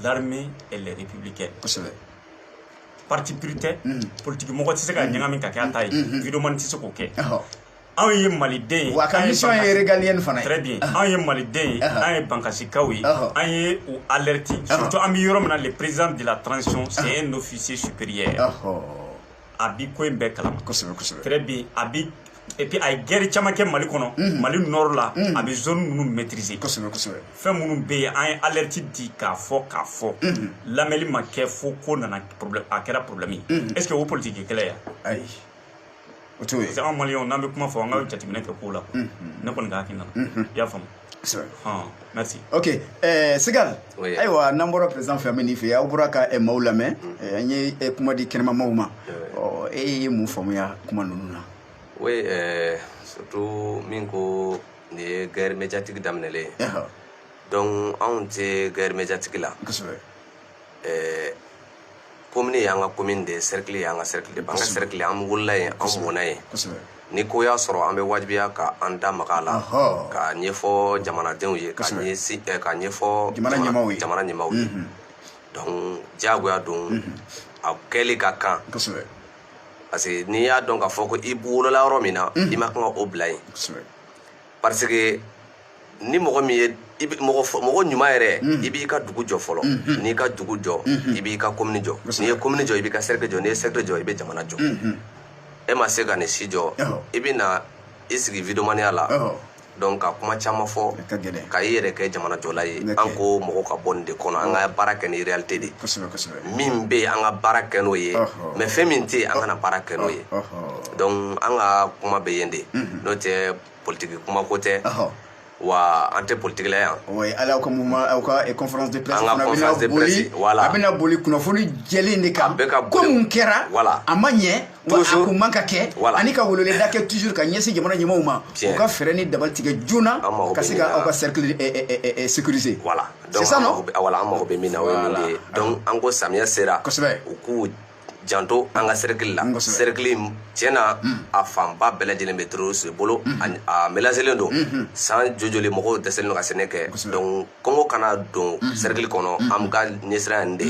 l'armée elle est républicaine kosɛbɛ parti pris tɛ politiki mɔgɔ tɛ se ka ɲagami ka kɛ a ta ye videomani tɛ se k'o kɛ ɔhɔ anw ye maliden ye wa ka mission ye régalienne fana ye très bien anw ye maliden ye an ye bankasikaw ye an ye u alerte surtout an bɛ yɔrɔ min na le président de la transition c'est un officier supérieur a bi ko in bɛɛ kalama kosɛbɛ kosɛbɛ très bien a bi et puis a ye guerre caman kɛ mali kɔnɔ mhm. mali nord la mhm. a bɛ zone minnu maîtriser kosɛbɛ kosɛbɛ fɛn minnu bɛ yen an ye alerte di k'a fɔ k'a fɔ mhm. lamɛnni ma kɛ fo ko nana problème a kɛra problème ye est ce que o politiki kɛlɛ ye wa ayi o t'o ye parce que anw maliyɛnw n'an bɛ kuma fɔ an ka jateminɛ kɛ kow la quoi. ne kɔni ka hakilina la i y'a faamu kosɛbɛ hɔn merci ok eh, sigal Oui. ayiwa n'an bɔra président fɛ an bɛ nin fɛ aw bɔra ka eh, maaw lamɛn eh, an ye eh, kuma di kɛnɛmamaaw ma Oui. Ɔ, e ye mun faamuya kuma ninnu na oui euh, surtout min ko nin ye guerre médiatique daminɛlen ye Ɛhɔ, donc anw tɛ guerre médiatique la kosɛbɛ ɛɛ komini y'an ka komini de ye sɛrikili y'an ka sɛrikili de an ka sɛrikili an wolola yen an mɔna yen ni ko y'a sɔrɔ an bɛ wajibiya ka an da maga a la k'a ɲɛfɔ jamanadenw ye k'a ɲɛfɔ jamana ɲɛmaaw ye donc diyagoya don a kɛli ka kan parce que n'i y'a dɔn k'a fɔ ko i wolola yɔrɔ min na i man kan ka o bila yen parce que ni mɔgɔ min ye i bi- mɔgɔ fɔ- mɔgɔ ɲuman yɛrɛ i b'i ka dugu jɔ fɔlɔ n'i y'i ka dugu jɔ i b'i ka komini jɔ n'i ye komini jɔ i b'i ka sɛrikili jɔ n'i ye sɛrikili jɔ i bɛ jamana jɔ e ma se ka nin si jɔ Ɔhɔ. i bɛ na i sigi videomaniya la Ɔhɔ. donc ka kuma caman fɔ A ka gɛlɛn. ka i yɛrɛ kɛ jamana jɔla ye Nɛkɛ. an ko mɔgɔ ka bɔ nin de kɔnɔ an ka baara kɛ ni réalité de ye kosɛbɛ kosɛbɛ min bɛ yen an ka baara kɛ n'o ye Ɔhɔ. mais fɛn min tɛ yen an kana baara kɛ n'o ye Ɔhɔ. donc an ka kuma bɛ yen de mhm. n'o tɛ politiki kuma ko tɛ wa an tɛ politiki la yan oui ala aw ka mouvement aw ka eh, conférence de presse an ka conférence de presse voilà a bɛna boli kunnafoni jɛlen de kan ko min kɛra voilà a ma ɲɛ wa a kun man kan ka kɛ ani ka weleweleda kɛ toujours ka ɲɛsin jamana ɲɛmɔgɔw ma u ka fɛɛrɛ ni dabali tigɛ joona ka se ka aw ka cercle eh, eh, sécuriser voilà c'est ça non voilà an mago bɛ min na o ye min de ye donc an ko samiya sera kosɛbɛ u k'u janto an ka serikili la serikili tiɲɛ na mm. a fanba bɛɛ lajɛlen bɛ terroriste de bolo mm-hmm. a mélangelen don mm-hmm. san jojoli mɔgɔw dɛsɛlen don ka sɛnɛ kɛ donc kɔngɔ kana don mm-hmm. serikili kɔnɔ an ka ɲɛsiran nin de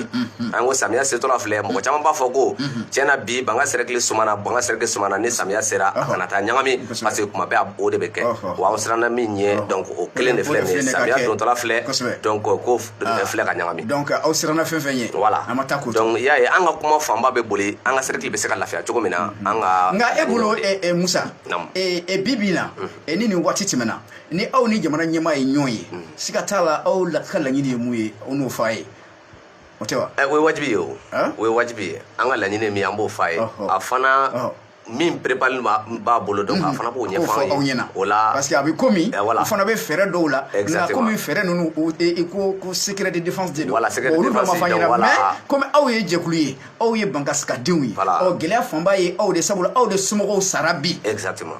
an ko samiya setɔla filɛ mɔgɔ caman b'a fɔ ko tiɲɛ na bi bankasi serikili sumana bankasi serikili sumana ni samiya sera a kana taa ɲagami parce que kuma bɛɛ o de bɛ kɛ wa an siranna min ɲɛ donc o kelen de filɛ nin ye samiya dontɔla filɛ donc ko a filɛ ka ɲagami donc aw siranna fɛn fɛn ɲɛ voilà an ma taa ko donc i y'a ye an ka kuma fanba bɛ boli an ka cercle bɛ se ka lafiya cogo min na mm-hmm. an ka nka e bolo eh, eh, musa eh, eh, bi bi na mm-hmm. ni nin waati tɛmɛna ni aw ni jamana ɲɛmaa ye ɲɔgɔn ye mm-hmm. siga t'a la aw la ka laɲini ye mun ye aw n'o fɔ a ye o tɛ wa o ye wajibi ye o o ye wajibi ye an ka laɲini ye min ye an b'o fɔ a ye a fana min perepali b'a bolo dɔn a fana b'o ɲɛfɔ aw ɲɛna o la parce que a bɛ komi u fana bɛ fɛɛrɛ dɔw la nka komi fɛɛrɛ ninnu o i ko ko secret de défense de don olu dɔ ma fɔ ɲɛna mais komi aw ye jɛkulu ye aw ye bankasika denw ye ɔ gɛlɛya fanba ye aw de sabula aw de somɔgɔw sara bi exactement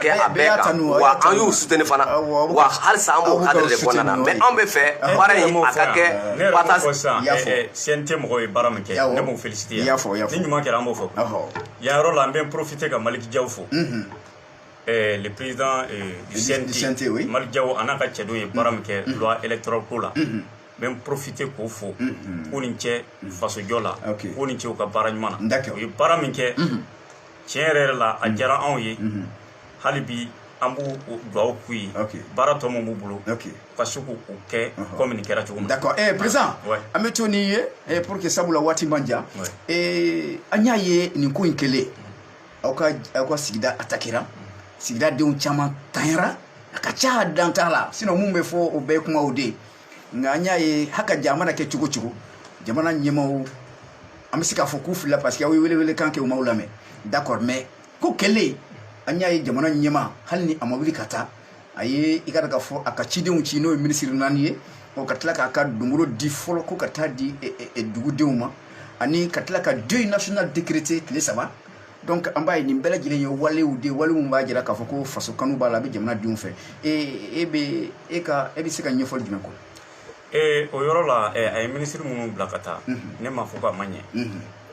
kɛ a bɛɛ kan wa an y'u suteni fana wa halisa an b'o kadiri de kɔnɔna na mais anw bɛ fɛ baara in a ka kɛ wa CNT mɔgɔw ye baara min kɛ ne b'o felisite ni ɲuman kɛra an b'o fɔ yan yɔrɔ la an bɛ porofite ka Malick Diaw fo le président du CNT Malick Diaw a n'a ka cɛdenw ye baara min kɛ loi électorale ko la n bɛ n profite k'o fo k'u ni ce faso jɔ la k'u ni ce u ka baara ɲuman na u ye baara min kɛ tiɲɛ yɛrɛ yɛrɛ la a diyara anw ye hali bi an b'u dugawu k'u ye baara tɔ min b'u bolo ka se k'u kɛ kɔmi nin kɛra cogo min d'accord eh président an bɛ to n'i ye eh, pour que sabula waati man jan eh, an y'a ye nin ko in kɛlen aw ka aw ka sigida atakera sigida denw caman tanyara a ka ca dan t'a la sinon mun bɛ fɔ o bɛɛ ye kumaw de ye nka an y'a ye hakika a mana kɛ cogo cogo jamana ɲɛmaaw an bɛ se k'a fɔ k'u filila parce que aw ye welewelekan kɛ u m'aw lamɛn d'accord mais ko kɛlen an y'a ye jamana ɲɛmaa hali ni a ma wuli ka taa a ye i k'a dɔn k'a fɔ a ka cidenw ci n'o ye minisiri naani ye ɔ ka tila k'a ka dongoro di fɔlɔ ko ka taa di dugudenw ma ani ka tila ka deuil national décrété tile saba donc an b'a ye nin bɛɛ lajɛlen ye walew de wale min b'a jira k'a fɔ ko faso kanu b'a la a bɛ jamana denw fɛ e e bɛ e ka e bɛ se ka ɲɛfɔli jumɛn kɛ ee o yɔrɔ la a ye minisiri minnu bila ka taa ne m'a fɔ k'a ma ɲɛ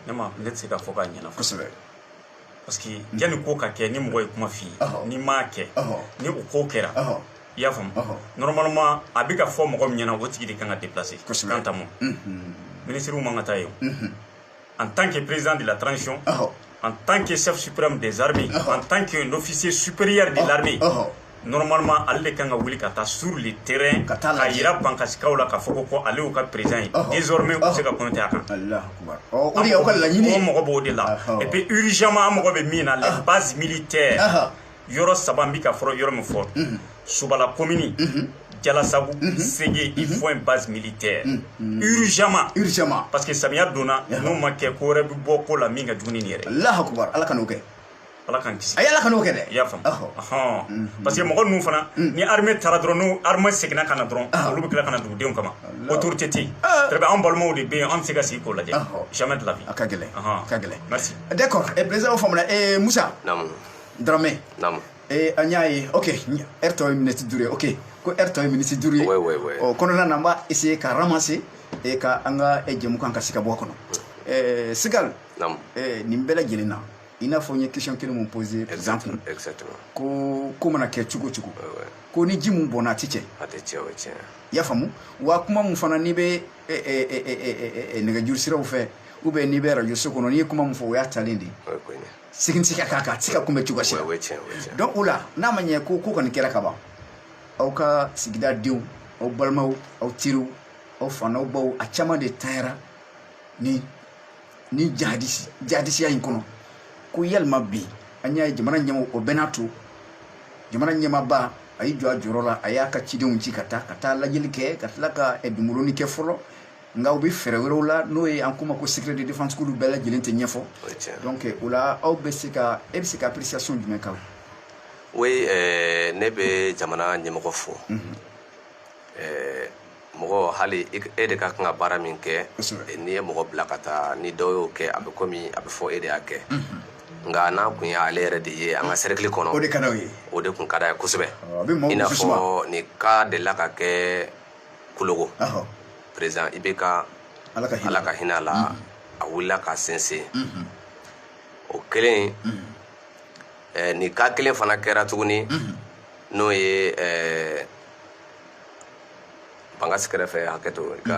ne ma ne tɛ se k'a fɔ k'a ɲɛna kosɛbɛ parce que yanni ko ka kɛ ni mɔgɔ ye kuma f'i ye n'i m'a kɛ ni o ko kɛra i y'a faamu normalement a bɛ ka fɔ mɔgɔ min ɲɛna o tigi de kan ka déplacer kosɛbɛ quand même minisiriw man kan ka taa yen en tant que président de la transition, oh. en tant que chef suprême des armées, oh. en tant qu'un officier supérieur de oh. l'armée, normalement ale de kan ka wuli ka taa sur le terrain k'a yira bankasikaw la k'a fɔ ko ko ale y'u ka président ye désormais u bɛ se ka compter a kan u mago b'o de la et puis urgemment an mago bɛ min na les bases militaires yɔrɔ saba n bɛ ka fɔlɔ yɔrɔ min fɔ subala komini jalasagu sege il faut une base militaire urgemment urgemment parce que samiya donna n'o ma kɛ ko wɛrɛ bɛ bɔ ko la min ka jugu ni nin yɛrɛ alahu akubar ala kan'o kɛ ala k'an kisi a ye ala kan'o kɛ dɛ i y'a faamu ɔhɔn parce que mɔgɔ ninnu fana ni armée taara dɔrɔn n'o armée seginna ka na dɔrɔn olu bɛ tila ka na dugudenw kama autorité tɛ yen très bien an balimaw de bɛ yen an bɛ se ka sigi k'o lajɛ jamais de la vie a ka gɛlɛn a ka gɛlɛn merci d'accord président faamuna musa daramɛ naamu ee an y'a ye ok lɛri tɔ ye miniti duuru ye ok ko lɛri tɔ ye miniti duuru ye ouais, ouais, ouais. ɔ kɔnɔna na n b'a essayer ka ramasser e ka an ka jɛmukan ka se ka bɔ a kɔnɔ ɛɛ sigal naamu ɛɛ nin bɛɛ lajɛlen na i n'a fɔ n ye question kelen mun poser président kun exactement ko ko mana kɛ cogo cogo ouais, ouais. ko ni ji mun bɔnna a tɛ cɛ a tɛ cɛ o tiɲɛ i y'a faamu wa kuma mun fana n'i bɛ nɛgɛjuru siraw fɛ ou bien n'i bɛ radio so kɔnɔ n'i ye kuma mun fɔ o y'a talen de ye segin tɛ se ka k'a kan a tɛ se ka kunbɛn cogo si la o ye tiɲɛ o ye tiɲɛ donc o la n'a ma ɲɛ ko ko kɔni kɛra ka ban aw ka sigida denw aw balimaw aw teriw aw fa n'aw baw a caman de tanyara ni ni jahadisi jahadisiya in kɔnɔ ko yalima bi an y'a ye jamana ɲɛmɔgɔ o bɛɛ n'a to jamana ɲɛmaaba a y'i jɔ a jɔyɔrɔ la a y'a ka cidenw ci ka taa ka taa lajɛli kɛ ka tila ka eh, dunboloni kɛ fɔlɔ nka u bɛ fɛɛrɛ wɛrɛw la n'o ye an k'o ma ko secret de défense k'olu bɛɛ lajɛlen tɛ ɲɛfɔ donc o la aw bɛ se ka e bɛ se ka appréciation jumɛn k'a la oui euh, ne bɛ jamana ɲɛmɔgɔ fo mhm. euh, mɔgɔ hali e de ka kan ka baara min kɛ n'i ye mɔgɔ bila ka taa ni dɔ y'o kɛ a bɛ komi a bɛ fɔ e de y'a kɛ mhm. nka n'a kun ye ale yɛrɛ de ye an ka cercle kɔnɔ o de ka d'o ye o de kun ka d'a ye kosɛbɛ i n'a fɔ nin cas delila ka kɛ kulogon président IBK ala ka hinɛ a la a wulila k'a sen se o kɛlen nin cas kelen fana kɛra tuguni n'o ye bankasi kɛrɛfɛ hakɛ to i ka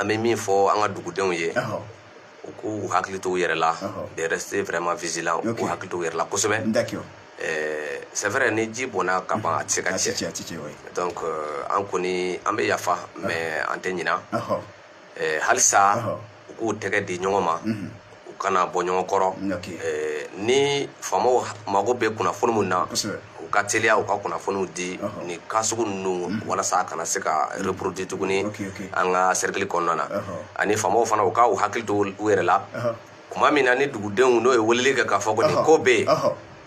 an bɛ min fɔ an ka dugudenw ye u k'u hakili to u yɛrɛ la de rester vraiment vigilant u k'u hakili to u yɛrɛ la kosɛbɛ eh, c'est vrai ni ji bɔnna ka ban a tɛ se ka cɛ donc euh, an kɔni an bɛ yafa mais an tɛ ɲina eh, halisa u k'u tɛgɛ di ɲɔgɔn ma mhm. u kana bɔ ɲɔgɔn kɔrɔ ni faamaw mago bɛ kunnafoni min na u ka teliya u ka kunnafoniw di ni cas sugu ninnu walasa a kana se ka reproduit tuguni an ka sɛrikili kɔnɔna na ani faamaw fana u k'u hakili to u yɛrɛ la tuma min na ni dugudenw n'u ye weleli kɛ k'a fɔ ko nin ko bɛ yen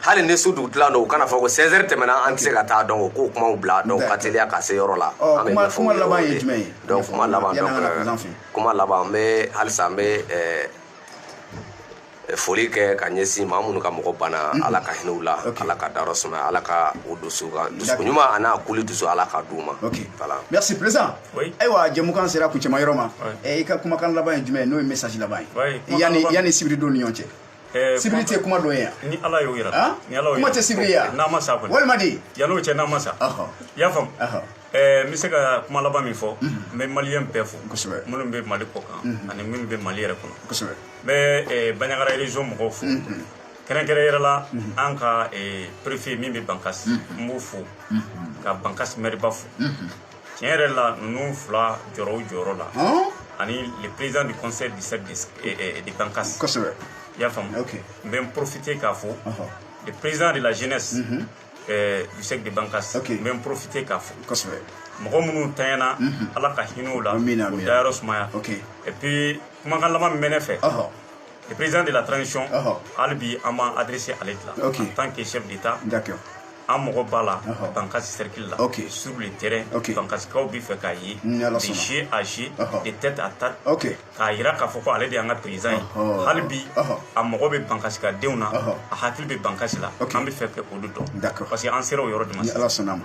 hali ni su dugutila don u kan'a fɔ ko 16 heures tɛmɛna an tɛ se ka taa donc u k'o kumaw bila donc ka teliya ka se yɔrɔ la an bɛ ɲɛfɔ kuma laban ye jumɛn ye donc kuma laban donc kuma laban n bɛ halisa n bɛ foli kɛ ka ɲɛsin maa minnu ka mɔgɔ banna ala ka hinɛ u la ala k'u dayɔrɔ sumaya ala ka o dusu ka dusukun ɲuman an'a kuli dusu ala k'a d'u ma voilà merci président ayiwa jɛmukan sera kuncɛma yɔrɔ ma i ka kumakan laban ye jumɛn ye n'o ye message laban ye yani yani sibiridon nin ɲɔgɔn cɛ sibiri tɛ kuma dɔ ye yan ni ala y'o yira ni ala kuma tɛ sibiri ya n'a ma sa kɔni walima di yan'o cɛ n'a ma sa i y'a faamu n bɛ se ka kuma laban min fɔ n bɛ maliyɛn bɛɛ fo kosɛbɛ minnu bɛ mali kɔkan ani minnu bɛ mali yɛrɛ kɔnɔ kosɛbɛ n bɛ baɲagara région mɔgɔw fo kɛrɛnkɛrɛn yɛrɛ la an ka préfet min bɛ bankasi n b'o fo ka bankasi mɛriba fo tiɲɛ yɛrɛ la ninnu fila jɔyɔrɔ o jɔyɔrɔ la ani le président du conseil du cercle de Bankas kosɛbɛ i y'a faamu n bɛ n profiter ka fo le président de la jeunesse mhm. eh, du cercle de Bankas n bɛ n profiter k'a fo kosɛbɛ mɔgɔ minnu tanyana mhm. ala ka hinɛ u la u dayɔrɔ sumaya et puis kumakan laban min bɛ ne fɛ le président de la transition hali bi an b'an adressé ale de la en tant que chef d'état an mago b'a la bankasi cercle la sur le terrain bankasikaw bɛ fɛ k'a ye de yeux à yeux de tête à tête k'a jira k'a fɔ ko ale de y'an ka président ye hali bi a mago bɛ bankasikadenw na a hakili bɛ bankasi la an bɛ fɛ k'olu dɔn parce que an sera o yɔrɔ de ma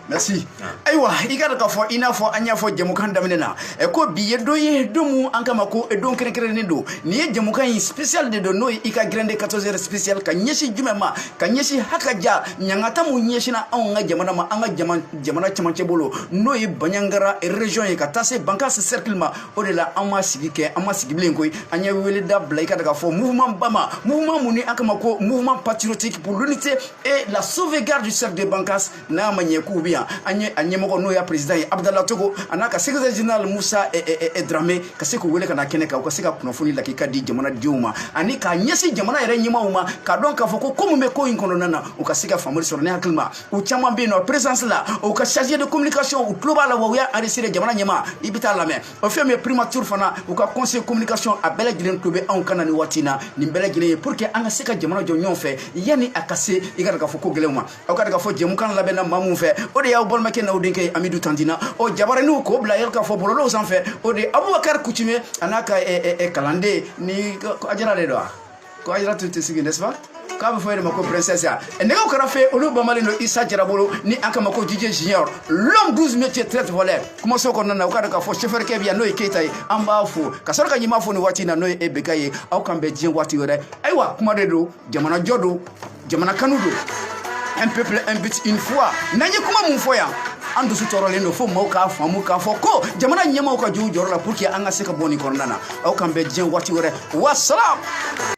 merci ayiwa i k'a dɔn k'a fɔ i n'a fɔ an y'a fɔ jɛmukan daminɛ na eh, ko bi ye don ye don min n'an k'a ma ko eh, don kɛrɛnkɛrɛnnen don nin ye jɛmukan in spécial de don n'o ye i ka grande 14 heures spécial ka ɲɛsin jumɛn ma ka ɲɛsin hakaja ɲangata min ɲɛsinna anw ka jamana ma an ka jamana cɛmancɛ bolo n'o ye baɲagara région ye ka taa se bankas cercle ma o de la an ma sigi kɛ an ma sigi bilen koyi an ye weleda bila i ka k'a fɔ mouvement ba ma mouvement min ni an k'a ma ko mouvement patriotique pour l'unité et la sauvegarde du cercle de Bankas n'a ma ɲɛ k'u bɛ yan an ye a ɲɛmɔgɔ n'o y'a président ye Abdala Togo an'a ka secrétaire général Moussa Dramé ka se k'u wele ka na kɛnɛ kan u ka se ka kunnafoni lakika di jamanadenw ma ani k'a ɲɛsin jamana yɛrɛ ɲɛmaaw ma k'a dɔn k'a fɔ ko ko min bɛ ko in kɔnɔna na u ka se ka faamuyali sɔrɔ ne hakili ma u caman bɛ yen nɔ présidence la u ka chargé de communication u tulo b'a la wa u y'a enregistré jamana ɲɛmaa i bɛ t'a lamɛn o fɛn min ye primature fana u ka conseil communication a bɛɛ lajɛlen tulo bɛ anw kan na nin waati na nin bɛɛ lajɛlen ye pour que an ka se ka jamana jɔ ɲɔgɔn fɛ yanni a ka se i k'a dɔn k'a fɔ ko gɛlɛnw ma aw k'a dɔn k'a fɔ jɛmukan labɛnna maa min fɛ o de y'aw balimakɛ n'aw denkɛ ye amidu tantina o jabaraniw k'o bila yɛrɛ k'a fɔ bɔlɔlɔw sanfɛ o de ye abubakari kutume an'a ka kalanden ni ajara de don wa ko ayira tun tɛ sigi n'est-ce pas k'a bɛ fɔ e de ma ko princesse ya nɛgɛw kɛrɛ fɛ olu bamalen don isa jarabolo ni an k'a ma ko jije junior l'homme 12 métier très voleur kumaso kɔnɔna na u k'a dɔn k'a fɔ chauffeur kɛ bɛ yan n'o ye keyita ye an b'a fo ka sɔrɔ ka ɲɛmaa fo nin waati in na n'o ye IBK ye aw k'an bɛn diɲɛ waati wɛrɛ ayiwa kuma de don jamanajɔ don jamana kanu don un peuple un but une foi n'an ye kuma min fɔ yan an dusu tɔɔrɔlen don fo maaw k'a faamu k'a fɔ ko jamana ɲɛmaaw ka jɔ u jɔyɔrɔ la pour que an ka se ka bɔ nin kɔnɔna na aw k'an bɛn diɲɛ waati wɛrɛ wasalam